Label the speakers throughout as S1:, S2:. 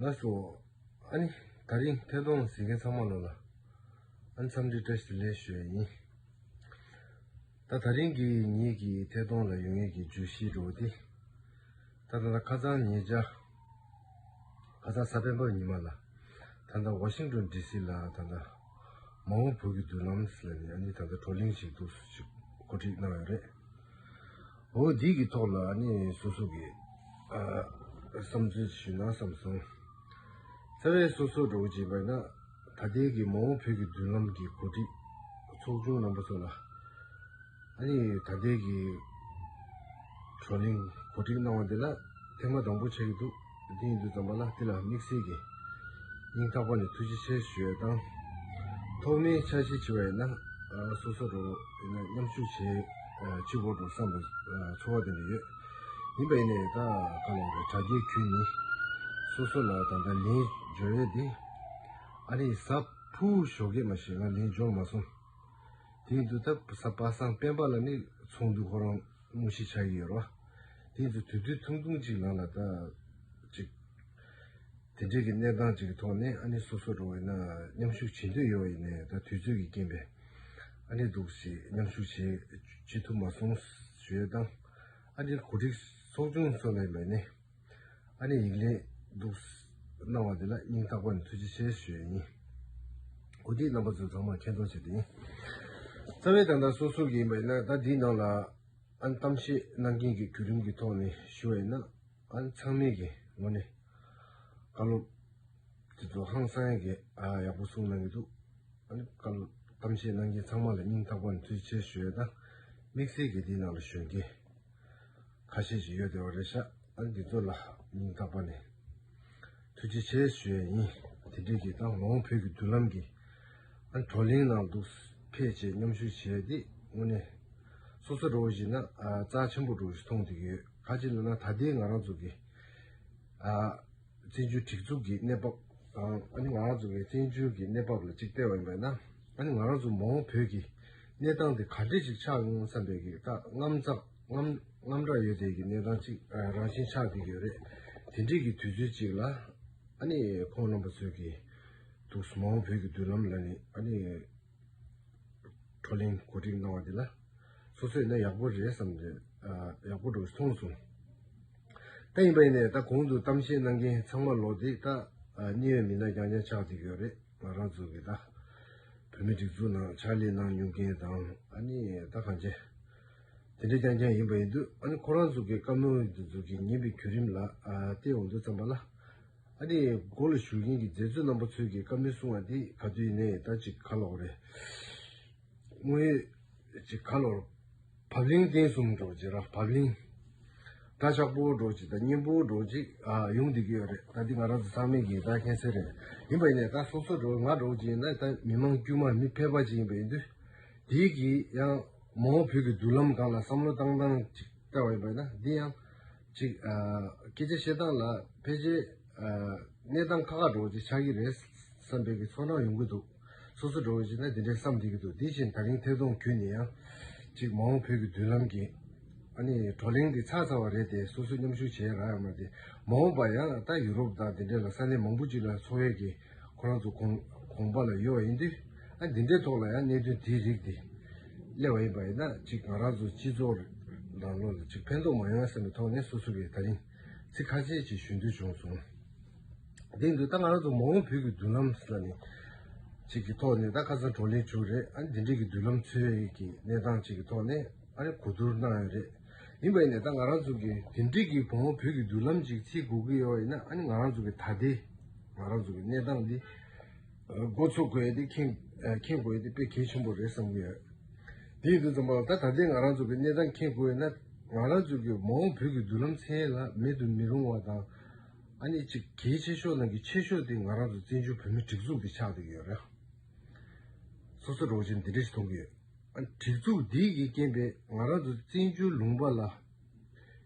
S1: ལགས་སོ། ཨ་ནི། ད་རིང་ཐད་གཏོང་ཟེར་མཁན་ཚང་མ་ལོ་ལ། ཨ་ནི་འཚམས་འདྲི་བཀྲ་ཤིས་ལེགས་ཞུ་ཡིན། ད་ད་རིང་གི་ཉིད་ཀྱི་ཐད་གཏོང་ལ་ཡོང་ཡུལ་གྱི་བརྗོད་གཞིའི་འགྲོ་བ་འདི། ད་ད་ད་ཁ་ཚང་ཉེ་བཅར། ཁ་ཚང་ས་པན་པོ་ཉི་མ་ལ། ད་ད་ཝ་ཤིང་ཏོན་ཏྲི་སི་ལ་ད་ད། མ་འོངས་བོད་ཀྱི་མདུན་ལམ་ལ་ནི་ཨ་ནི་ད་ད་བགྲོ་གླེང་ཞིག་ཏུ་གོ་སྒྲིག་གནང་ཡོད་རེད། འོ་འདི་གི་ཐོག་ལ་ནི་སོ་སོ་གི་བསམ་ཚུལ་ཞུས་ན་བསམ་སོང། རྩ་བའི་སོ་སོར་འགྲོ་ཅེས་པས་ན་ད་ལྟའི་གི་མ་འོངས་བོད་ཀྱི་མདུན་ལམ་གྱི་གོ་སྒྲིག་ཚོགས་ཆུང་རྣམ་པ་ཚོ་ལ་ནི་ད་ལྟའི་གི་བགྲོ་གླེང་གོ་སྒྲིག་གནང་བ་འདི་ལ་ཐེངས་མ་དང་པོ་ཆགས་ཀྱི་འདུག། སྟེང་དུ་བརྩམས་པ་ལ་དེ་ལ་དམིགས་བསལ་གྱི་སྙིང་ཐག་པ་ནས་ཐུགས་རྗེ་ཆེ་ཞུ་བའི་དང། ཐོག་མའི་འཆར་གཞི་ཆེ་བ་ཡིན་ན་སོ་སོར་རོ་ཡིན་ན་མཉམ་ཞུགས་བྱེད་ཕྱིར་བོར་དུ་བསམ་པའི་ཚོར་བ་ལྡན་པ་ཡོད། ཡིན་པ་ཡིན་ན་ཡོད་ད་ག་ལ་འགྲོ་དྲ་རྒྱའི་ཁྱོན་ནི་སོ་སོ་ལ་ད་ལྟ་ལན་འབྱོར་ཡོད་དེ། ཨ་རིའི་ས་ཕུའུ་ཞོ་ཀེ་མ་ཞིག་ང་ལན་འབྱོར་མ་སོང། དེའི་འདུག་ཐབས་ས་པ་སངས་དཔལ་འབར་ལ་ནི་ཚོགས་འདུ་ཁོ་རང། རླུང་ཞེས་བྱ་ཡི་ཡོད་རོ། དེ་ཡིན་དུ་དུས་དུས་ཐུང་ཐུང་ཅིག་ལངས་ལ་ལྟ། ཅིག། དེ་འབྲེལ་གྱི་གནས་སྟངས་ཅིག་གི་ཐོག་ནས་ཨ་ནི་སོ་སོར་འགྲོ་བས་ན་མཉམ་ཞུགས་བྱེད་འདོད་ཡོད་བ་ཡིན་ནའི་ད་དུས་ཚོད་ཀྱི་རྐྱེན་པས་ཨ་ནི་འདུག་ཞེས་མཉམ་ཞུགས་བྱེད་ཅི་ཐུབ་མ་སོང། ཞེས་དང། ཨ་ནི་གོ་སྒྲིག་ཚོགས་ཆུང་སོགས་ལས་མེད་ནས། ཨ་ནེ་ཡིག་ལན་འདུག། གནང་བ་འདི་ལ་སྙིང་ཐག་པ་ནས་ཐུགས་རྗེ་ཆེ་ཞུ་ཡི་ཡིན། གོ་སྒྲིག་རྣམ་པ་ཚོས་ཚང་མར་མཁྱེན་རྟོགས་བྱས་ཏེ་ཡིན། རྩ་བའི་དང་བདག་སོ་སོ་གི་ཡིན་པ་ཡིན་ན་ད་འདིའི་ནང་ལ་ཨན་གཏམ་བཤད་གནང་མཁན་གྱི་བརྒྱུད་རིམ་གྱི་ཐོག་ནས་ཞུ་བ་ཡིན་ན་ཨན་ཚང་མས་གི་ངོ་ནས་བཀའ་སློབ་དེ་ཚོ་ཧང་སང་གི་ཡག་པོ་གསུང་གནང་གི་འདུག་ཨན་བཀའ་སློབ་གཏམ་བཤད་གནང་མཁན་ཚང་མ་ལ་སྙིང་ཐག་པ་ནས་ཐུགས་རྗེ་ཆེ་ཞུ་ཡོད་ན་དམིགས་བསལ་གྱི་འདིའི་ནང་ལ་ཞུ་མཁན། ཁ་ཤས་ཤིག་ཡོད་དེ་བ་རེད་ཤག་ཏག་འདི་ཚོ་ལ་མིང་བཏགས་པ་ནས་ཐུགས་རྗེ་ཆེ་ཞུ་ཡས་ཡིན་དེ་འདྲས་ཀྱི་ཏང་ནང་བོད་ཀྱི་མདུན་ལམ་གྱི་བགྲོ་གླེང་ནང་འདུག་ཕལ་ཆེར་མཉམ་ཞུགས་བྱས་ཏེ་དངོས་གནས་སོ་སོ་རོགས་བཞིན་ན་རྩ་ཆེན་པོ་རོགས་བཞིན་མཐོང་ཐུབ་ཀྱི་ཡོད་ཁ་ཅིག་ལ་ན་ད་ལྟའི་ང་རང་ཚོ་གི་བཙན་བྱོལ་སྒྲིག་འཛུགས་ཀྱི་གནས་བབ་དང་ཨ་ནེ་ང་རང་ཚོ་བའི་བཙན་བྱོལ་གྱི་གནས་བབ་ལ་གཅིག་སྤེལ་བ་ཡིན་པས་ན་ཨ་ནེ་ང་རང་ཚོ་མ་འོངས་བོད་ཀྱི་གནས་སྟངས་དེ་ག་འདྲས་ཤིག་ཆགས་ཡོང་བསམ་པའི་གི་རྔམ་སྐྲག་ཡོད་དེ་གི་གནས་སྟངས་གཅིག་རང་བཞིན་ཆགས་ཀྱི་ཡོད་རེད་དེ་འདྲས་གི་དུས་ཚོད་ཅིག་ལ་ཨ་ནེ་ཁོང་རྣམ་པ་ཚོས་གི་འདུག་མ་འོངས་བོད་ཀྱི་མདུན་ལམ་ལ་ནི་ཨ་ནེ། བགྲོ་གླེང་གོ་སྒྲིག་གནང་བ་དེ་ལ་སོ་སོས་ན་ཡག་པོ་རེད་བསམ་ནས་ཡག་པོ་འགྲོ་སོང་སོང། ད་ཡིན་པ་ཡིན་ནས་ད་གོང་དུ་གཏམ་བཤད་གནང་མཁན་ཚང་མ་ལོག་དེ་ད་གནས་ཡོད་མི་སྣ་རྐྱང་རྐྱང་ཆགས་ཅིག་ཡོད་རེད་ང་རང་ཚོ་གི་ད་བོད་མི་སྒྲིག་འཛུགས་ནང་ཕྱག་ལས་གནང་མྱོང་མཁན་དང་ཨ་ནི་ད་གང་ཅན་དེ་འདྲ་རྐྱང་རྐྱང་ཡིན་པ་ཡིན་དུས་ཨ་ནི་ཁོ་རང་ཚོ་གི་བཀའ་མོལ་འདི་ཚོ་གི་ཉན་པའི་བརྒྱུད་རིམ་ལ་བལྟས་འོང་དུས་བརྩམས་པ་ལ། ཨ་ནི་སྒོ་ལ་བཞུགས་མཁན་གྱི་མཛད་གཙོ་རྣམ་པ་ཚོས་ཀྱིས་བཀའ་མོལ་གསུང་བ་འདི་ག་དུས་ཡིན་ནའི་ད་ཅིག་ག་ལོག་རེད། དངོས་ཡོད་ཅིག་ག་ལོག་རེད། བབ་བརླིང་བརྟན་གསུམ་སྒྲོག་ཅིག་ར་བབ་བརླིང། དགྲ་ཆགས་པོ་སྒྲོག་ཅིག་དང་གཉེན་པོ་སྒྲོག་ཅིག་ཡོང་སྡིག་གི་ཡོད་རེད་ད་འདི་ང་རང་ཚོ་ཚང་མས་ཀྱིས་ད་ཁྱེད་ཚོའི་རེད་ཡིན་པ་ཡིན་ནའི་ད་སོ་སོ་སྒྲོག་ང་སྒྲོག་ཅིག་ཡིན་ནའི་ད་མི་མང་དཀྱུས་མ་མི་ཕལ་པ་ཅིག་ཡིན་པ་ཡིན་དུས། དེའི་གིས་ཡང་མོའོ་བོད་ཀྱི་མདུན་ལམ་སྒང་ལ་བསམ་བློ་བཏང་སྟངས་ཅིག་བལྟ་བ་ཡིན་པ་ཡིན་ན་འདི་ཡང། གཅིག། སྐད་ཆ་བཤད་སྟངས་ལ་ཕལ་ཆེར་གནས་སྟངས་ཁག་ཁག་འགྲོ་བ་ཅིག་ཆགས་ཀྱི་རེད་བསམ་པའི་གི་ཚོར་སྣང་ཡོང་གི་འདུག་སོ་སོ་འགྲོ་བ་ཅིག་ན་དེ་འདྲའི་བསམ་བསྡད་ཀྱི་འདུག་དེ་བཞིན་ད་རིང་ཐད་གཏོང་བརྒྱུད་ནས་ཡང་གཅིག་མ་འོངས་བོད་ཀྱི་མདུན་ལམ་གྱི་ཨ་ནི་བགྲོ་གླེང་འདི་ཚགས་ཚར་བ་རེད་དེ་སོ་སོས་མཉམ་ཞུགས་བྱས་ར་ཡང་མ་བསྡད་མ་འོངས་པ་ཡང་ད་ཡུ་རོབ་དང་དེ་འདྲའི་ལ་ས་གནས་མང་པོ་ཅིག་ལ་འཚོ་བའི་གི། ཁོ་རང་ཚོ་གོང་པ་ལ་ཡོད་པ་ཡིན་དུས་ཨ་འདི་འདྲའི་ཐོག་ལ་ཡང་གནད་དོན་དེའི་རིགས་འདི་གླེང་བ་ཡིན་པ་ཡིན་ན་གཅིག་ང་རང་ཚོ་སྤྱི་ཚོགས་རང་ལོ་ལ་གཅིག་ཕན་ཐོགས་མ་ཡོང་བསམ་པའི་ཐོག་ནས་སོ་སོ་གིས་ད་རིང་ཚིག་ཁ་ཤས་ཅིག་ཞུ་འདོད་བྱུང་སོང། དེ་ཡིན་དུས་ད་ང་རང་ཚོ་མ་འོངས་བོད་ཀྱི་མདུན་ལམ་ས་ནས་ཅིག་གི་ཐོག་ནས་ད་ཁ་སང་བགྲོ་གླེང་བྱུང་རེད་ཨ་འདི་འདྲའི་གི་མདུན་ལམ་ཚོའི་གི་གནས་སྟངས་ཅིག་གི་ཐོག་ནས་ཨ་རེ་གོ་བསྡུར་གནང་ཡོད་རེད། ཡིན་པ་ཡིན་ནས་ད་ང་རང་ཚོ་གི་དེ་འགྲིག་གི་བུ་མོ་བོད་ཀྱི་བསྡུར་ལམ་ཅིག་བྱེད་དགོས་ཀྱི་ཡོད་ཡིན་ན་ཨ་ནི་ང་རང་ཚོ་གི་ད་ལྟའི་ང་རང་ཚོ་གི་གནས་སྟངས་འདི་འགོ་ཚུགས་དགོས་དེ་མཁྱེན་དགོས་དེ་དཔེ་གལ་ཆེན་པོ་རེད་བསམ་གྱི་ཡོད། དེའི་དུས་ཙམ་པར་ད་ད་ལྟའི་ང་རང་ཚོ་གི་གནས་སྟངས་མཁྱེན་དགོས་ཡིན་ན་ང་རང་ཚོ་གི་མོ་བོད་ཀྱི་བསྡུར་ལམ་མཚན་ལ་མེད་དུ་མི་རུང་བ་དང་ཨ་ནི་གཅིག་གལ་ཆེ་ཤོས་ནང་གི་ཆེ་ཤོས་དེ་ང་རང་ཚོ་བཙན་བྱོལ་བོད་མི་སྒྲིག་འཛུགས་འདི་ཆགས་འདུག་ཡོད་རེད། སོ་སོ་རང་བཞིན་འདི་འདྲ་ཞིག་མཐོང་གི་ཡོད། གྲིབ་གཟུགས་འདིས་ཀྱིས་རྐྱེན་པས་ང་རང་ཚོ་བཙན་བྱོལ་ལུང་པ་ལ་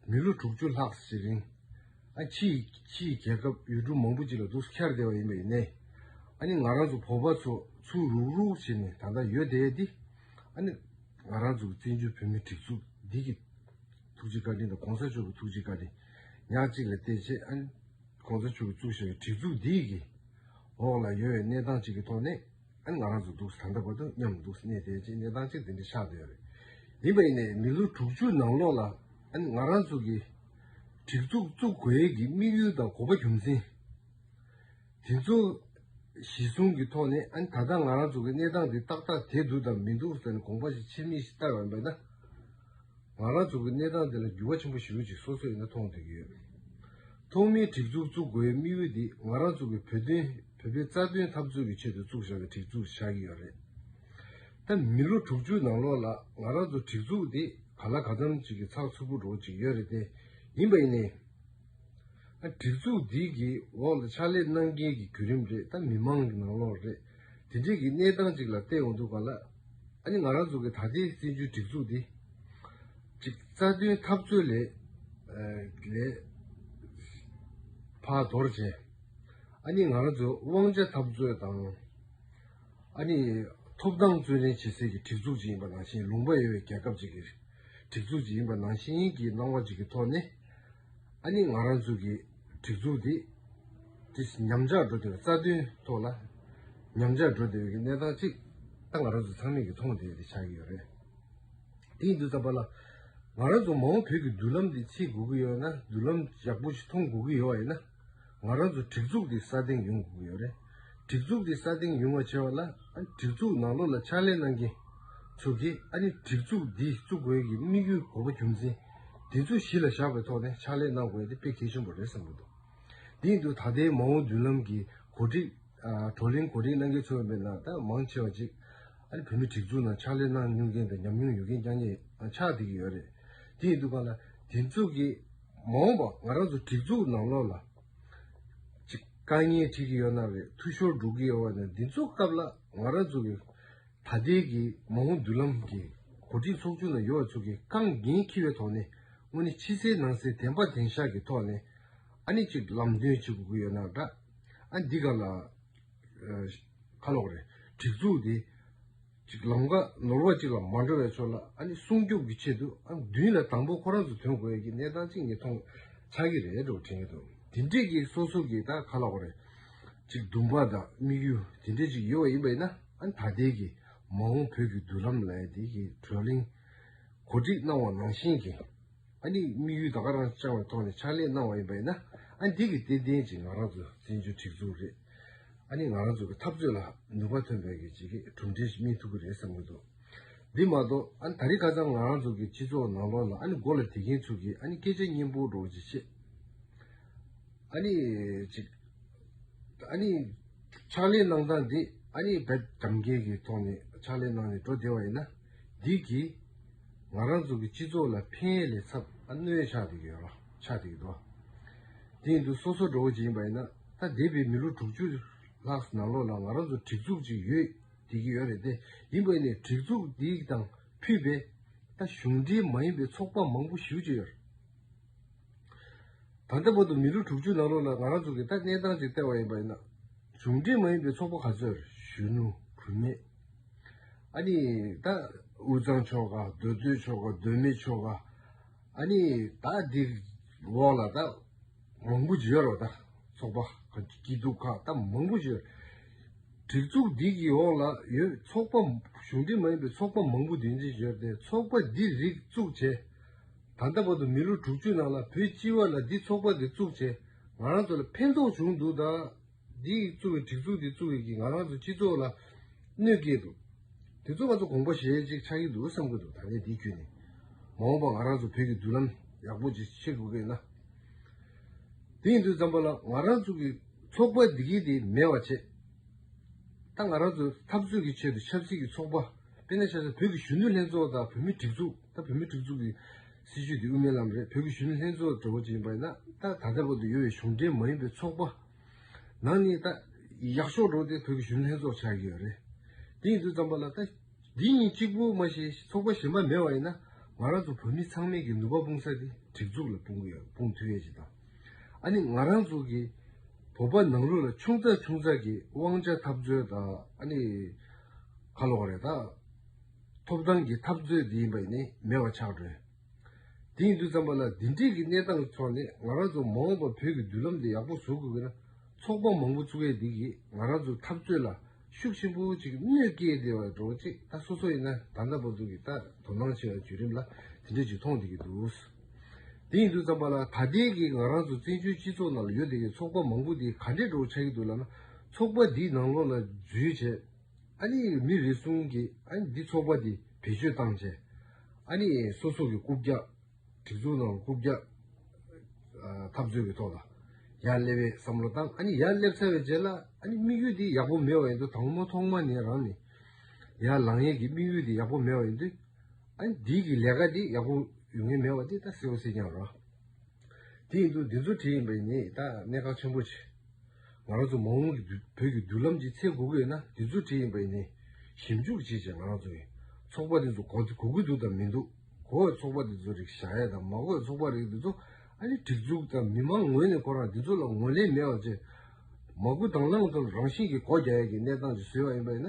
S1: མི་ལོ་དྲུག་ཅུ་ལྷག་ཞིག་རིང། ཕྱི་ཡི་རྒྱལ་ཁབ་ཡུལ་གྲུ་མང་པོ་ཅིག་ལ་འདུག་ས་འཁྱར་བསྡད་པ་ཡིན་པ་ཡིན། ཨཱ་ནི་ང་རང་ཚོ་བོད་པ་ཚོ་ཚུར་རུག་རུག་བྱས་ནས་ད་ལྟ་ཡོད་བསྡད་དེ། ཨཱ་ནི་ང་རང་ཚོ་བཙན་བྱོལ་བོད་མིའི་གྲིབ་གཟུགས་འདི་ཀྱི་ཐུགས་རྗེ་བཀའ་དྲིན་དང་གོང་ས་མཆོག་གི་ཐུགས་རྗེ་བཀའ་དྲིན་ཉག་གཅིག་ལས་གཏད་ཆེད། ཁོང་ཚོ་ཆུ་བཙུགས་ཤིང་གྲི་བཙུགས་འདི་ཡི་གི། འོག་ལ་ཡོད་པའི་གནས་སྟངས་གཅིག་གི་ཐོག་ནས། ཨ་ང་རང་ཚོ་འདུག་ས་ད་ལྟ་བར་དུ་མཉམ་དུ་འདུག་ས་གནས་དེའི་གཅིག་གནས་སྟངས་གཅིག་འདི་འདྲ་ཆགས་སྡོད་རེད། ཡིན་པ་ཡིན་ནའི་མི་ལོ་དྲུག་ཅུ་ནང་ལོགས་ལ་ཨ་ང་རང་ཚོ་གི། གྲི་བཙུགས་བཙུགས་དགོས་ཡས་ཀྱི་དམིགས་ཡུལ་དང་གོ་བ་རྒྱུ་མཚན། དེ་ཚོ། གཞི་བཟུང་གི་ཐོག་ནས་ཨ་ད་ལྟ་ང་རང་ཚོ་གི་གནས་སྟངས་འདི་ཏག་ཏག་དེ་འདུག་དང་མི་འདུག་ས་ནས་དགོངས་པ་ཞིག་ཕྱི་མིག་ཤིག་བལྟ་བའམ་པས་ན། ང་རང་ཚོ་གི་གནས་སྟངས་འདི་ལ་འགྱུར་བ་ཆེན་པོ་ཞིག་ཡོད་ཅེས་སོ་སོས་ནི་མཐོང་ཐོས་ཀྱི་ཡོད། ཐོག་མའི་སྒྲིག་འཛུགས་བཙུགས་དགོས་དམིགས་ཡུལ་འདི་ང་རང་ཚོ་གི་བོད་དོན་བོད་པའི་རྩ་དོན་འཐབ་རྩོད་ཀྱི་ཆེད་དུ་བཙུགས་བཞག་གི་སྒྲིག་འཛུགས་ཆགས་ཀྱི་ཡོད་རེད། ད་མི་ལོ་དྲུག་ཅུ་ནང་ལོགས་ལ་ང་རང་ཚོ་སྒྲིག་འཛུགས་འདི་ག་ལ་ག་ཙམ་ཅིག་གི་ཚགས་ཚུད་པོ་འགྲོ་ཅིག་ཡོད་རེད་དེ་ཡིན་པ་ཡིན་ནའི། སྒྲིག་འཛུགས་འདི་གི་འོག་ལ་ཕྱག་ལས་གནང་མཁན་གྱི་བརྒྱུད་རིམ་རེད་ད་མི་མང་གི་ནང་ལོགས་རེད། དེ་འབྲེལ་གྱི་གནས་སྟངས་ཅིག་ལ་བལྟས་འོང་འདུག་ག་ལ། ཨ་ནི་ང་རང་ཚོ་གི་ད་ལྟའི་བཙན་བྱོལ་སྒྲིག་འཛུགས་འདི། གཅིག་རྩ་དོན་འཐབ་རྩོད་ལས། བར་དོར་བྱས། ཨ་ནི་ང་རང་ཚོའི་དབང་ཆ་འཐབ་རྩོད་དང། ཨ་ནི་ཐོབ་ཐང་བརྩོན་ལེན་བྱེད་སའི་གི་སྒྲིག་འཛུགས་ཅིག་ཡིན་པ་ནང་བཞིན་ལུང་པ་ཡོད་པའི་རྒྱལ་ཁབ་ཅིག་གི་སྒྲིག་འཛུགས་ཅིག་ཡིན་པ་ནང་བཞིན་གྱི་སྣང་བ་ཅིག་གི་ཐོག་ནས། ཨ་ནི་ང་རང་ཚོ་གི་སྒྲིག་འཛུགས་དེ་དེ་ཉམས་ཆག་འགྲོ་བདེ་བའི་རྩ་དོན་ཐོག་ལ་ཉམས་ཆག་འགྲོ་བདེ་བའི་གནས་སྟངས་གཅིག་ད་ང་རང་ཚོ་ཚང་མས་ཀྱི་མཐོང་བདེ་དེ་ཆགས་ཀྱི་ཡོད་རེད། དེའི་འདུག་ས་པ་ལ་ང་རང་ཚོ་མ་འོངས་བོད་ཀྱི་མདུན་ལམ་དེ་ཕྱེ་དགོས་ཀྱི་ཡོད་ན་མདུན་ལམ་ཡག་པོ་ཞིག་མཐོང་དགོས་ཀྱི་ཡོད་ཡིན་ན། ང་རང་ཚོ་སྒྲིག་འཛུགས་འདི་ས་སྟེང་ཡོང་དགོས་ཀྱི་ཡོད་རེད། སྒྲིག་འཛུགས་འདི་ས་སྟེང་ཡོང་བ་བྱས་པ་ལ་ཨ་ནི་སྒྲིག་འཛུགས་ནང་ལོགས་ལ་ཕྱག་ལས་གནང་མཁན་ཚོ་གིས་ཨ་ནི་སྒྲིག་འཛུགས་འདི་བཙུགས་དགོས་ཀྱི་དམིགས་ཡུལ་གོ་བ་རྒྱུ་མཚན་འདི་ཚོ་གཞི་ལ་བཞག་པའི་ཐོག་ནས་ཕྱག་ལས་གནང་དགོས་ཏེ་དཔེ་གལ་ཆེན་པོ་རེད་བསམ་གྱི་འདུག་དེ་ཡིན་དུས་ད་ལྟའི་མ་འོངས་མདུན་ལམ་གྱི་གོ་སྒྲིག་བགྲོ་གླེང་གོ་སྒྲིག་གནང་མཁན་ཚོའི་མན་ངག་ད་མང་ཆེ་བ་གཅིག་ཨ་ནི་བོད་མིའི་སྒྲིག་འཛུགས་ནང་ཕྱག་ལས་གནང་མྱོང་མཁན་དང་ཉམས་མྱོང་ཡོད་མཁན་རྐྱང་རྐྱང་ཆགས་བསྡད་ཀྱི་ཡོད་རེད་དེ་ཡིན་དུས་པ་ལ་དེ་ཚོ་གིས། མ་འོངས་པར་ང་རང་ཚོ་སྒྲིག་འཛུགས་ནང་ལོགས་ལ་ཅིག་དཀའ་ངལ་འཕྲད་ཀྱི་ཡོད་ན་བའི་འཐུས་ཤོར་འགྲོ་གི་ཡོད་བ་ནི་འདི་ཚོ་སྐབས་ལ་ང་རང་ཚོ་གི་ད་ལྟའི་གི་མ་འོངས་མདུན་ལམ་གི་གོ་སྒྲིག་ཚོགས་ཆུང་ནང་ཡོད་བ་ཚོ་གི་རྐང་འགན་འཁྱེར་བའི་ཐོག་ནས་དངོས་ནི་ཕྱི་གསལ་ནང་གསལ་དན་པ་དན་ཤག་གི་ཐོག་ནས་ཨ་ནི་ཅིག་ལམ་སྟོན་བྱེད་དགོས་ཀྱི་ཡོད་ན་འདྲ། ཨ་འདི་ག་ལ། ཁ་ལོག་རེད། སྒྲིག་འཛུགས་དེ། ཅིག་ལམ་ཁ་ནོར་བ་ཅིག་ལ་མ་འགྲོ་བའི་ཚོད་ལ་ཨ་ནི་སྲུང་སྐྱོབ་ཀྱི་ཆེད་དུ་ཨ་མདུན་ལ་དང་པོ་ཁོ་རང་ཚོ་དོན་དགོས་ཡོད་ཀྱི་གནས་སྟངས་ཅིག་ནི་མཐོང་ཆགས་ཀྱི་རེད་འགྲོ་དྲན་གྱི་འདུག་དེ་འདྲས་ཀྱི་སོ་སོ་གྱི་ད་ག་ལ་འོ་རེད། ཅིག་འདུན་པ་དང་དམིགས་ཡུལ་དེ་འདྲས་ཅིག་ཡོད་བ་ཡིན་པ་ཡིན་ན་ཨ་ནི་ད་ལྟའི་གི་མ་འོངས་བོད་ཀྱི་མདུན་ལམ་ལ་ཡང་དེ་གི་བགྲོ་གླེང་གོ་སྒྲིག་གནང་བ་ནང་བཞིན་གྱི། ཨ་ནི་དམིགས་ཡུལ་ད་ག་རང་བཅང་བའི་ཐོག་ནས་ཕྱག་ལས་གནང་བ་ཡིན་པ་ཡིན་ན་ཨ་ནི་དེ་གི་སྟེ་དེའི་རྗེས་ང་རང་ཚོ་བཙན་བྱོལ་སྒྲིག་འཛུགས་རེད་ཨ་ནི་ང་རང་ཚོ་གི་འཐབ་རྩོད་ལ་ནུས་པ་ཐོན་པའི་གི་བྱེད་གི་གྲུབ་འབྲས་ཤིག་སྨིན་ཐུབ་གི་རེད་བསམ་གི་འདུག་འདི་མ་གཏོགས་ཨ་ནི་ད་རི་ག་ཙམ་ང་རང་ཚོ་གི་སྤྱི་ཚོགས་ནང་ལོགས་ལ་ཨ་ནི་མགོ་ལ་དེད་མཁན་ཚོ་གི་ཨ་ནི་སྐད་ཆ་སྙན་པོ་སྒྲོག་ཅི་བྱེད། ཨ་ནི་ཅིག། ཨ་ནི། ཕྱག་ལས་གནང་སྟངས་འདི་ཨ་ནི་བེད་དམ་རྐྱེན་གི་ཐོག་ནས་ཕྱག་ལས་གནང་ནས་འགྲོ་བདེ་བ་ཡིན་ན། འདི་གིས་ང་རང་ཚོ་གི་སྤྱི་ཚོགས་ལ་ཕན་ཡས་ལས་ཚབ་ཨ་གནོད་ཆགས་འདུག་ཡོད་རོ་ཆགས་འདུག་ཡོད་དོ། དེ་ཡིན་དུས་སོ་སོ་འགྲོ་བོ་ཅིག་ཡིན་པ་ཡིན་ན་ད་འདས་པའི་མི་ལོ་དྲུག་ཅུ་ལྷག་ནང་ལོགས་ལ་ང་རང་ཚོ་གྲིག་འཛུགས་ཅིག་ཡོད་བསྡད་ཀྱི་ཡོད་རེད་དེ་ཡིན་པ་ཡིན་ནའི་གྲིག་འཛུགས་འདི་དང་ཕུད་པའི་ད་གཞུང་འབྲེལ་མ་ཡིན་པའི་ཚོགས་པ་མང་པོ་ཞིག་བཅུ་ཡོད་རེད། ད་ལྟ་བར་དུ་མི་ལོ་དྲུག་ཅུ་ནང་ལོགས་ལ་ང་རང་ཚོ་གི་ད་གནས་སྟངས་ཅིག་བལྟས་བ་ཡིན་པ་ཡིན་ན་གཞུང་འབྲེལ་མ་ཡིན་པའི་ཚོགས་པ་ག་ཚོད་གཞོན་ནུ་བུད་མེད་ཨཱ་ནི། ད་དབུས་གཙང་ཆོ་ག་མདོ་སྟོད་ཆོ་ག་གདོད་མའི་ཆོ་ག། ཨཱ་ནི། ད་འདི་འོག་ལ་ད་མང་པོ་བརྗོད་རོགས་ད། ཚོགས་པ་སྐྱིད་སྡུག་ཁག་ད་མང་པོ་བརྗོད། བྲིག་ཚོགས་འདི་གི་འོག་ལ་ཡོད་ཚོགས་པ་གཞུང་འབྲེལ་མ་ཡིན་པའི་ཚོགས་པ་མང་པོ་འདུས་འཛིན་བྱོས་ཏེ་ཚོགས་པ་འདི་རིགས་བཙུགས་བྱས། ད་ལྟ་བར་དུ་མི་ལོ་དྲུག་ཅུ་ནང་ལ་བོད་སྤྱི་བ་ལ་འདི་ཚོགས་པ་འདི་བཙུགས་བྱས་ང་རང་ཚོ་ལ་ཕན་ཐོགས་བྱུང་འདུག་ད། འདི་ཡིས་བཙུགས་པའི་གྲིབ་གཟུགས་དེ་བཙུགས་རིགས་ཀྱིས་ང་རང་ཚོའི་སྤྱི་ཚོགས་ལ་གནོད་སྐྱེལ་འདུག་དེ་ཚོ་ང་ཚོ་གོང་པོ་ཞེས་གཅིག་ཆགས་ཀྱི་འདུག་བསམ་གྱི་འདུག་ད་ནས་འདི་བརྒྱུད་ནས་མ་འོངས་པར་ང་རང་ཚོ་བོད་ཀྱི་མདུན་ལམ་ཡག་པོ་ཅིག་ཕྱེ་དགོས་གལ་ན། དེ་ཡིན་དུས་ཙམ་པོ་ལ་ང་རང་ཚོ་གི་ཚོགས་པ་འདི་གིས་དེ་མེད་བར་བྱེད། ད་ང་རང་ཚོས་འཐབ་རྩོད་ཀྱི་ཆེད་དུ་ཆབ་སྲིད་ཀྱི་ཚོགས་པ་དཔེར་ན་ཆ་ས་བོད་ཀྱི་གཞོན་ནུ་ལྷན་ཚོགས་དང་བོད་མི་སྒྲིག་འཛུགས་ད་བོད་མི་སྒྲིག་འཛུགས་ཀྱི་སྲིད་ཇུས་འདི་དབུ་མའི་ལམ་རེད་བོད་ཀྱི་གཞོན་ནུ་ལྷན་ཚོགས་ཀྱི་གྲོས་འགོ་ཅིག་ཡིན་པ་ཡིན་ན་ད་ད་ལྟ་བོད་དུ་ཡོད་པའི་གཞུང་འབྲེལ་མ་ཡིན་པའི་ཚོགས་པ་ནང་ནས་ད་ཡག་ཤོག་འགྲོ་སྟེ་བོད་ཀྱི་གཞོན་ནུ་ལྷན་ཚོགས་ཆགས་ཀྱི་ཡོད་རེད་དེ་ཡིན་དུས་ཙམ་པ་ལ་ད་འདི་གཉིས་གཅིག་པོ་མ་ཤེས་ཚོགས་པ་གཞན་པ་མེད་པ་ཡིན་ན་ང་རང་ཚོ་བོད་མི་ཚང་མས་ཀྱི་ནུས་པ་སྤུངས་ས་དེ་སྒྲིག་འཛུགས་ལ་སྤུངས་ཀྱི་ཡོད་སྤུངས་ཐུབ་ཡས་ཅིག་དང་ཨ་ནི་ང་རང་ཚོ་གི་བོད་པ་ནང་ལུགས་ལ་ཆུང་ཙག་ཆུང་ཙག་གི་དབང་ཆ་འཐབ་རྩོད་དང་ཨ་ནི་ཁ་ལོ་བ་རེད་ད། ཐོབ་ཐང་གི་འཐབ་རྩོད་དེ་ཡིན་པ་ནི་མེད་པ་ཆགས་བྲོས། དེ་ཡིན་དུས་ཙམ་པ་ལ་འདི་འདྲིས་ཀྱི་གནས་སྟངས་ཐོག་ནས་ང་རང་ཚོ་མ་འོངས་པར་བོད་ཀྱི་མདུན་ལམ་དེ་ཡག་པོ་བཟོ་དགོས་ཀྱི་ན་ཚོགས་པ་མང་པོ་ཚུགས་ཡས་དེ་གིས་ང་རང་ཚོ་འཐབ་རྩོད་ལ་ཤུགས་ཆེན་པོ་ཅིག་གནོད་སྐྱེལ་བདེ་བ་འགྲོ་ཅེས་ད་སོ་སོ་ཡིན་ན་ད་ལྟ་བར་དུ་གི་ད་དོ་སྣང་ཆེ་བའི་བརྒྱུད་རིམ་ལ་དེ་འདྲས་ཅིག་མཐོང་བསྡད་ཀྱི་འདུག་དེ་ཡིན་དུས་ཙམ་པ་ལ་ད་ལྟའི་གི་ང་རང་ཚོ་བཙན་བྱོལ་སྤྱི་ཚོགས་ནང་ལ་ཡོད་དེ་གི་ཚོགས་པ་མང་པོ་དེ་ག་འདྲས་འགྲོ་ཆགས་ཀྱི་འདུག་ལ་ན་ཚོགས་པ་དེའི་ནང་ལོགས་ལ་འཛུལ་བྱས། ཨ་ནི་མི་རེ་ཟུང་གིས་ཨ་ནི་འདི་ཚོགས་པ་འདི་བེད་སྤྱོད་བཏང་རྗེས། ཨ་ནི་སོ་སོ་གི་རྐུབ་བཀྱག། སྒྲིག་འཛུགས་ནང་རྐུབ་བཀྱག། འཐབ་རྩོད་ཀྱི་ཐོག་ལ་ཡར་སླེབས་པའི་བསམ་བློ་བཏང་ཨ་ནི་ཡར་སླེབས་ཚར་བའི་རྗེས་ལ་ཨ་ནི་དམིགས་ཡུལ་འདི་ཡག་པོ་མེད་བ་ཡིན་དུས་ད་ངོ་མ་ཐོག་མ་ནས་རང་ནས་ཡར་ལངས་ཡས་ཀྱི་དམིགས་ཡུལ་འདི་ཡག་པོ་མེད་བ་ཡིན་དུས་ཨ་ནི་འདིའི་གི་ལས་ཀ་འདི་ཡག་པོ་ཡོང་ངེས་མེད་བ་འདི་ད་གསལ་བོ་གསལ་རྐྱང་ར། དེ་ཡིན་དུས་འདི་ཚོ་བྲིས་ཡིན་པས་ངས་ད་གནད་འགག་ཆེན་པོ་ཆེ། ང་རང་ཚོ་མ་འོངས་ཀྱི་བོད་ཀྱི་མདུན་ལམ་གྱི་ཚེ་གོ་གི་ཡོད་ན་འདི་ཚོ་བྲིས་ཡིན་པས་ངས་ཞིབ་འཇུག་བྱེད་ཅེས་ང་རང་ཚོ་གི་ཚོགས་པ་འདི་ཚོ་གོ་གི་འདུག་དང་མི་འདུག་གོ་བའི་ཚོགས་པ་འདི་ཚོ་རིགས་བཞག་ཡས་དང་མ་གོ་བའི་ཚོགས་པ་རིགས་འདི་ཚོ་ཨ་ལི་སྒྲིག་འཛུགས་དང་མི་མང་ངོས་ནས་ཁོ་རང་འདི་ཚོ་ལ་ངོ་ལེན་མེད་བ་བཅས་མ་གུ་དང་བླངས་ཚོར་རང་བཞིན་གྱིས་གོ་རྒྱ་ཡས་ཀྱི་གནས་སྟངས་ཀྱི་བཟོས་བ་ཡིན་པས་ན།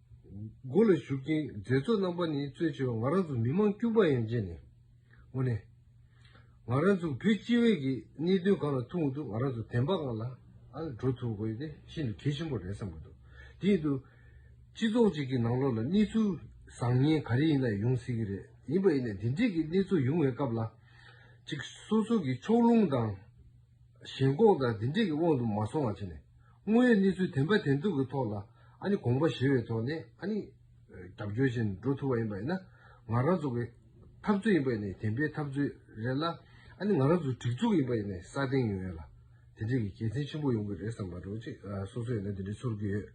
S1: སྒོ་ལ་ཞུགས་ཀྱིན་མཛད་གཙོ་རྣམ་པ་ནི་གཙོས་ཆེ་བ་ང་རང་ཚོ་མི་མང་དཀྱུས་མ་ཡན་ཆད་ནས་ངོ་ནས། ང་རང་ཚོ་བོད་སྤྱི་བའི་ཀྱི་གནད་དོན་གང་ལ་ཐུག་འདུག་ང་རང་ཚོ་དན་པ་གང་ལ་འགྲོ་ཐུབ་དགོས་དེ་ཤིན་ཏུ་གལ་ཆེན་པོ་རེད་བསམ་གྱི་འདུག་དེ་ཡིན་དུ། སྤྱི་ཚོགས་ཅིག་གི་ནང་ལོགས་ལ་གནས་ཚུལ་བཟང་ངན་ག་རེ་ཡིན་ན་ཡོང་སྲིད་ཀྱི་རེད་ཡིན་པ་ཡིན་ན་དེ་འདྲིས་ཀྱི་གནས་ཚུལ་ཡོང་བའི་སྐབས་ལ། ཅིག་སོ་སོ་ཀྱི་ཕྱོགས་ལྷུང་དང། ཞེན་ཁོག་དང་འདི་འདྲས་ཀྱི་དབང་དུ་མ་སོང་བ་བྱས་ནས། དངོས་ཡོད་གནས་ཚུལ་དེ་འབའ་དེ་འདུག་གི་ཐོག་ལ་ཨ་ནི་དགོངས་པ་བཞེས་བའི་ཐོག་ནས་ཨ་ནི། རྒྱབ་སྐྱོར་བྱས་ནས་འགྲོ་ཐུབ་པ་ཡིན་པ་ཡིན་ན། ང་རང་ཚོ་གི། འཐབ་རྩོད་ཡིན་པ་ཡིན་ནས་དེ་འབའི་འཐབ་རྩོད་རེད་ལ། ཨ་ནི་ང་རང་ཚོ་སྒྲིག་འཛུགས་ཡིན་པ་ཡིན་ནས་ས་སྟེང་ཡོད་ལ། དེ་འདྲས་ཀྱི་དགེ་མཚན་ཆེན་པོ་ཡོང་གི་རེད་བསམ་པ་རེད། སོ་སོ་ཡོད་ན་དེ་འདྲས་ཚོར་གི་ཡོད།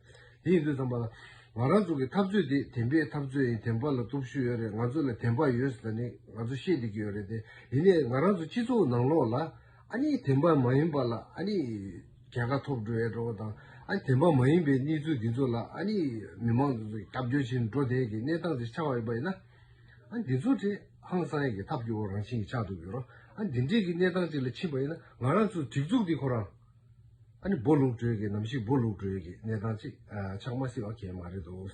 S1: དེ་ཡིན་དུས་བསམ་པ། ང་རང་ཚོ་གི་འཐབ་རྩོད་འདི་བདེན་པའི་འཐབ་རྩོད་ཡིན་བདེན་པ་ལ་སྟོབས་ཤུགས་ཡོད་རེད་ང་ཚོ་ལ་བདེན་པ་ཡོད་ཟེར་ནས་ང་ཚོ་བཤད་བསྡད་ཀྱི་ཡོད་རེད་དེ་ཡིན་ནས་ང་རང་ཚོ་སྤྱི་ཚོགས་ནང་ལོགས་ལ། ཨ་ནི་བདེན་པ་མ་ཡིན་པ་ལ་ཨ་ནི། རྒྱལ་ཁ་ཐོབ་འགྲོ་ཡ་འགྲོ་བ་དང། ཨ་ནི་བདེན་པ་མ་ཡིན་པའི་གནས་ཚུལ་འདི་ཚོ་ལ་ཨ་ནི། མི་མང་ཚོ་རྒྱབ་སྐྱོར་བྱེད་འགྲོ་བསྡད་ཀྱི་གནས་སྟངས་དེ་ཆགས་ཡོད་པ་ཡིན་ན། ཨ་ནི་འདི་ཚོ་དེ་ཧང་སང་གི་ཐབས་ཀྱི་འོག་རང་བཞིན་གྱིས་ཆགས་འདུག་གི་རོ། ཨ་ནི་འདི་འདྲས་ཀྱི་གནས་སྟངས་ཅིག་ལ་ཕྱིན་པ་ཡིན་ན་ང་རང་ཚོའི་སྒྲིག་འཛུགས་འདི་ཁོ་རང། ཨ་ནི་འབོ་ལུག་སྒྲོལ་གྱི་ནམ་ཞིག་འབོ་ལུག་སྒྲོལ་གྱི་གནས་སྟངས་ཅིག་ཆགས་མ་སྲིད་པ་ཁས་མ་རེད་དོ།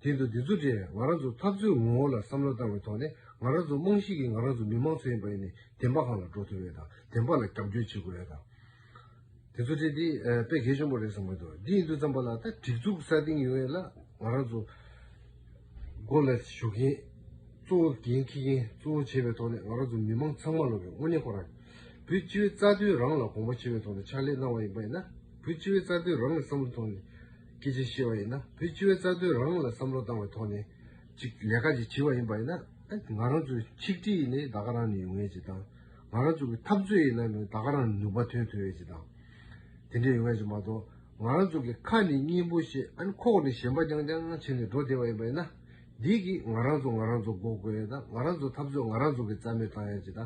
S1: དེ་འདུག་འདི་ཚོ་དེ་ང་རང་ཚོ་འཐབ་རྩོད་ངོ་བོ་ལ་བསམ་བློ་བཏང་བའི་ཐོག་ནས་ང་རང་ཚོ་རྨང་གཞི་གི་ང་རང་ཚོ་མི་དམངས་ཚོ་ཡིན་པ་ཡིན་ནས་བདེན་པ་གང་ལ་འགྲོ་ཐུབ་ཡོད་དང་བདེན་པ་ལ་རྒྱབ་སྐྱོར་བྱེད་དགོས་ཡོད་དང། དེ་ཚོ་དེ་འདི་དཔེ་གལ་ཆེན་པོ་རེད་བསམ་གྱི་འདུག་འདི་ཡིན་དུས་བརྩམས་པ་ལ་ད་སྒྲིག་འཛུགས་གསར་བཏིང་ཡོང་ཡས་ལ་ང་རང་ཚོ། སྒོ་ལ་ཞུགས་མཁན་གཙོ་བོ་འགན་འཁྱེར་མཁན་གཙོ་བོ་བྱས་པའི་ཐོག་ནས་ང་རང་ཚོ་མི་མང་ཚང་མ་ལོ་བའི་དངོས་གནས་ཁོ་རང་བོད་སྤྱི་བའི་རྩ་དོན་རང་ལ་དགོངས་པ་ཆེ་བའི་ཐོག་ནས་ཕྱག་ལས་གནང་བ་ཡིན་པ་ཡིན་ན་བོད་སྤྱི་བའི་རྩ་དོན་རང་གི་བསམ་བློའི་ཐོག་ནས་སྐད་ཆ་བཤད་པ་ཡིན་ན་བོད་སྤྱི་བའི་རྩ་དོན་རང་ལ་བསམ་བློ་བཏང་བའི་ཐོག་ནས་ཅིག་ལས་ཀ་ཅིག་བྱས་པ་ཡིན་པ་ཡིན་ན་ང་རང་ཚོའི་ཆིག་སྒྲིལ་ཡིན་ནའི་ད་ག་རང་ནས་ཡོང་ངེས་ཅིག་དང་ང་རང་ཚོ་གི་འཐབ་རྩོད་ཡིན་ནའི་ད་ག་རང་ནས་ནུས་པ་ཐོན་ཐུབ་ངེས་ཅིག་དང་དེ་འདྲས་ཡོང་ངེས་ཅིག་མ་གཏོགས་ང་རང་ཚོ་གི་ཁ་ནི་སྙིང་པོ་ཞེས་ཨན་ཁོག་ནི་ཞེན་པ་རྐྱང་རྐྱང་བྱས་ནས་འགྲོ་བདེ་བ་ཡིན་པ་ཡིན་ན། འདིས་གིས་ང་རང་ཚོ་ང་རང་ཚོ་འགོག་དགོས་ཡོད་ད་ང་རང་ཚོ་འཐབ་རྩོད་ང་རང་ཚོ་གི་རྩ་མེད་བཏང་ཡ་ཅི་ད།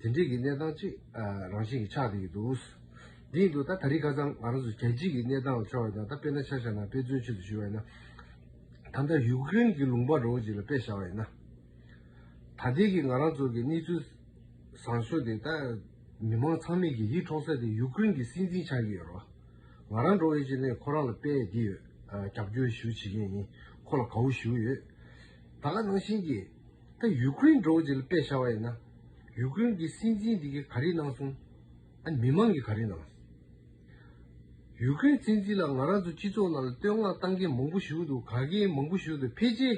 S1: དེ་འདྲིས་གི་གནས་སྟངས་ཅིག་རང་བཞིན་གི་ཆགས་བསྡད་ཡོད་འདུག། འདི་ཡིན་དུ་ད་ད་རིས་ཁ་ཚང་ང་རང་ཚོ་རྒྱལ་སྤྱིས་གི་གནས་སྟངས་ལ་ཕྱོགས་ཡོད་ད་ད་དཔེ་ན་ཆ་བཞག་ན་དཔེ་མཚོན་ཆེད་དུ་ཞུས་བ་ཡིན་ན། ད་ལྟ་ཡུག་ཀི་རིན་གི་ལུང་པ་རོ་ཅིག་ལ་དཔེ་བཞག་བ་ཡིན་ན། ད་ལྟའི་གི་ང་རང་ཚོ་གི་གནས་ཚུལ་བཟང་ཤོས་དེ་ད། མི་མང་ཚང་མས་ཀྱི་ཡིད་འཕྲོག་ས་དེ་ཡུཀ་ཀེརེན་གྱི་སྲིད་འཛིན་ཆགས་ཀྱི་ཡོད་རོ། ང་རང་འགྲོ་བའི་ཆེད་ནས་ཁོ་རང་ལ་དཔལ་ཡེ་འདི་ཡོད་རྒྱབ་སྐྱོར་ཞུ་བྱེད་མཁན་ཡིན་ཁོ་ལ་གའུ་ཞུ་ཡོད། ད་ག་ནང་བཞིན་གྱི། ད་ཡུཀ་ཀེརེན་འགྲོ་བའི་ཆེད་ལ་དཔལ་ཤར་བ་ཡིན་ན། ཡུཀ་ཀེརེན་གྱི་སྲིད་འཛིན་དེ་གི་ག་རེ་གནང་སོང། ཨ་མི་མང་གི་ག་རེ་གནང། ཡུཀ་ཀེརེན་སྲིད་འཛིན་ལ་ང་རང་ཚོ་སྤྱི་ཚོགས་ནང་ལ་བསྟོད་བསྔགས་བཏང་མཁན་མང་པོ་བཞུགས་འདུག་ག་གེ་མང་པོ་བཞུགས་འདུག་ཕལ་ཆེར།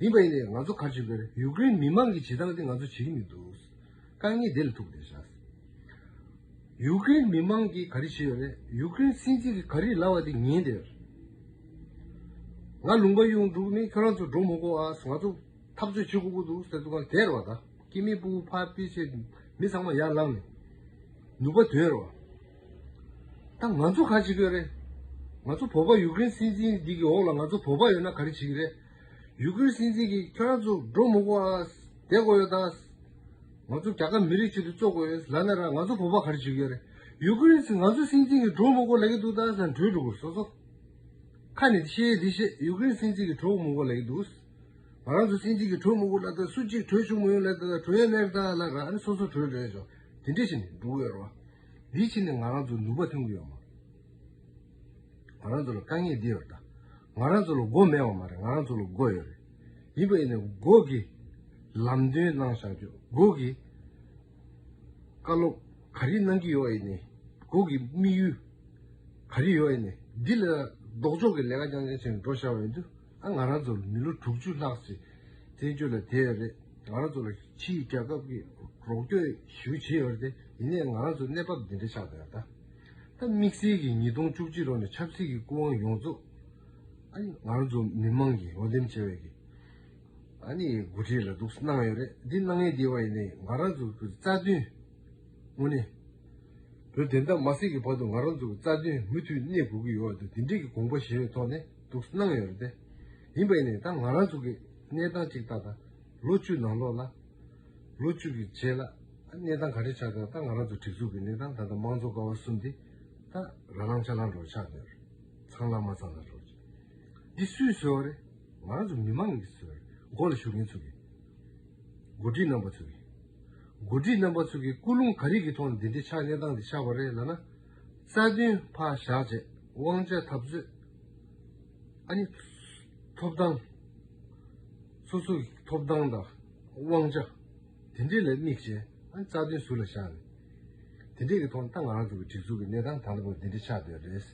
S1: ཡིན་པ་ཡིན་ནའི་ང་ཚོ་གར་བྱེད་དགོས་ཡུ་ཀེ་རིན་མི་མང་གི་བྱེད་སྟངས་དེ་ང་ཚོ་བྱེད་ཀྱི་མི་འདུག་དཀའ་ངལ་དེ་ལ་ཐུག་བསྡད་བཞག་ཡུ་ཀེ་རིན་མི་མང་གིས་ག་རེ་བྱེད་ཡོད་རེད་ཡུ་ཀེ་རིན་སྲིད་འཛིན་གིས་ག་རེ་ལབ་བ་དེ་ཉན་བསྡད་ང་ལུང་པ་གཡུང་དྲུག་མིན་ཁྱོད་རང་ཚོ་འགྲོ་མི་གོ་ཨ་ང་ཚོ་འཐབ་རྩོད་བྱེད་དགོས་ཀྱི་འདུག་ཟེར་དུ་གང་དེར་བ་ད་ཀི་མི་སྤུ་བོ་ཕ་སྤི་ཆེ་མི་ཚང་མ་ཡར་ལངས་ནས་ནུབ་པ་དོན་རེད་བ། ད་ང་ཚོ་ག་བྱེད་གི་རེད། ང་ཚོ་བོད་པ་ཡུག་ཀེ་རེན་སྲིད་འཛིན་འདི་གི་འོག་ལ་ང་ཚོ་བོད་པ་ཡོད་ན་ག་རེ་བྱེད་གི་རེད། ཡུག་ཀེ་རེན་སྲིད་འཛིན་གིས་ཁྱོད་རང་ཚོ་འགྲོ་མི་དགོ་ཨ། བསྡད་དགོ་ཡོད་ཨ། ང་ཚོ་རྒྱ་གར་མི་རིགས་ཆེད་དུ་བཙོ་དགོ་ཡོད་ཨ་ལ་ན་ར་ང་ཚོ་བོད་པ་ག་རེ་བྱེད་གི་རེད། ཡུག་ཀེ་རེན་སྲིད་ང་ཚོ་སྲིད་འཛིན་གིས་འགྲོ་མི་དགོ་ལེགས་ཀི་འདུག་ད་ས་འགྲོས་འགྲོ་དགོ་སོ་སོ། ཁ་ནས་ཤེས་ཡས་དེ་བཤད་ཡུག་ཀེ་རེན་སྲིད་འཛིན་གིས་འགྲོ་མི་དགོ་ལེགས་འདུག། ང་རང་ཚོ་སྲིད་འཛིན་གིས་འགྲོ་མི་དགོ་ལ་ད་སུ་གཅིག་འགྲོས་བྱུང་མི་ཡོད་ལ་ད་ད་འགྲོ་ཡས་ལེགས་ཨ་ལ་ན་ར་ཨ་ནི་སོ་སོ་འགྲོས་འགྲོས་ཡོད་ཆོག་དེ་འདྲས་བྱེད་ནས་འགྲོ་གི་ཡོད་རོ། དེའི་ཕྱིར་ནི་ང་རང་ཚོ་ནུས་པ་ཐོན་གྱི་ཡོད་མ་རེད། ང་རང་ཚོ་ལ་དཀའ་ངལ་འདི་ཡོད་རེད། ང་རང་ཚོ་ལ་སྒོ་མེད་བ་མ་རེད་ང་རང་ཚོ་ལ་སྒོ་ཡོད་རེད། ཡིན་པ་ཡིན་ནའི་སྒོ་གི་ལམ་སྟོན་གནང་བཞག་རྒྱུ་སྒོ་གི་བཀའ་སློབ་ག་རེ་གནང་གི་ཡོད་ཡིན་ནའི་སྒོ་གི་དམིགས་ཡུལ་ག་རེ་ཡོད་ཡིན་ནའི་འདི་ལ་ལྡོག་ཕྱོགས་ཀྱི་ལས་ཀ་རྐྱང་རྐྱང་བྱས་ནས་འགྲོ་བཞག་པ་ཡིན་དུས། ཨ་ང་རང་ཚོ་ལ་མི་ལོ་དྲུག་ཅུ་ལྷག་ཟིན། བཙན་བྱོལ་ལ་དེ་ཡང་རེད། ང་རང་ཚོ་ལ་ཕྱི་ཡི་རྒྱལ་ཁབ་ཀྱིས་རོགས་སྐྱོར་ཞིག་བྱས་ཡོད་རེད། ཡིན་ནའི་ང་རང་ཚོ་གནས་བབ་འདི་འདྲ་ཆགས་ཡོད་ད། ད་དམིགས་བསལ་གྱིས་ཉིས་སྟོང་བཅུ་གཅིག་ལོ་ནས་ཆབ་སྲིད་ཀྱི་སྐུ་དབང་ཡོངས་རྫོགས་ཨ་ནི་ང་རང་ཚོ་མི་མང་གིས་འོས་འདེམས་བྱས་པའི་གི་ཨ་ནི་འགོ་ཁྲིད་ལ་འདུག་གནང་ཡོད་རེད། འདི་གནང་ཡས་དེ་བ་ཡིན་ནའི་ང་རང་ཚོ་གི་རྩ་དོན་དངོས་གནས་བོད་བདེན་མཐའ་མ་སྲིད་ཀྱི་བར་དུ་ང་རང་ཚོ་གི་རྩ་དོན་མུ་མཐུད་གནས་དགོས་ཀྱི་ཡོད་ད་དེ་འདྲའི་གི་དགོངས་པ་བཞེས་པའི་ཐོག་ནས། འདུག་གནང་ཡོད་རེད། ཡིན་པ་ཡིན་ནའི་ད་ང་རང་ཚོ་གི་གནས་སྟངས་གཅིག་ལྟ་དང། ལོ་བཅུ་ནང་ལོགས་ལ། ལོ་བཅུ་གི་རྗེས་ལ། གནས་སྟངས་ག་རེ་ཆགས་ཀྱང་ད་ང་རང་ཚོ་སྒྲིག་འཛུགས་ཀྱི་གནས་སྟངས་ད་ལྟ་དམངས་གཙོ་ཀ་བ་གསུམ་འདི། ད་རང་རང་ཆ་ལང་འགྲོ་ཆགས་ཀྱི་ཡོད་རེད། ཚང་ལ་མ་ཚང་ལ་རོགས་གྱིས། འདི་སུས་བཟོས་བ་རེད། ང་རང་ཚོ་མི་མང་གིས་བཟོས་བ་རེད། འགོ་ལ་ཞུགས་མཁན་ཚོ་གིས། འགོ་ཁྲིད་རྣམ་པ་ཚོ་གིས། འགོ་ཁྲིད་རྣམ་པ་ཚོ་གིས་སྐུལ་སློང་ག་རེ་གྱི་ཐོག་ནས་འདི་འདྲའི་ཆགས་གནས་སྟངས་འདི་ཆགས་པ་རེད་ལ་ན། རྩ་བདུན་ཕག་ཞག་བཅས་དབང་བྱ་ཐབས་མཛོད། ཨ་ནི། ཐོབ་ཐང། སོ་སོ་ཡི་ཐོབ་ཐང་དང་དབང་ཆ། དེ་འདྲས་ལ་དམིགས་བྱས་ཨ་ནི་རྩ་བདུན་ཟུར་ལ་བཞག་ནས། དེ་འདྲས་ཀྱི་ཐོག་ནས་ད་ང་རང་ཚོ་གི་སྒྲིག་འཛུགས་ཀྱི་གནས་སྟངས་ད་ལྟ་བར་འདི་འདྲ་ཆགས་བསྡད་པ་རེད།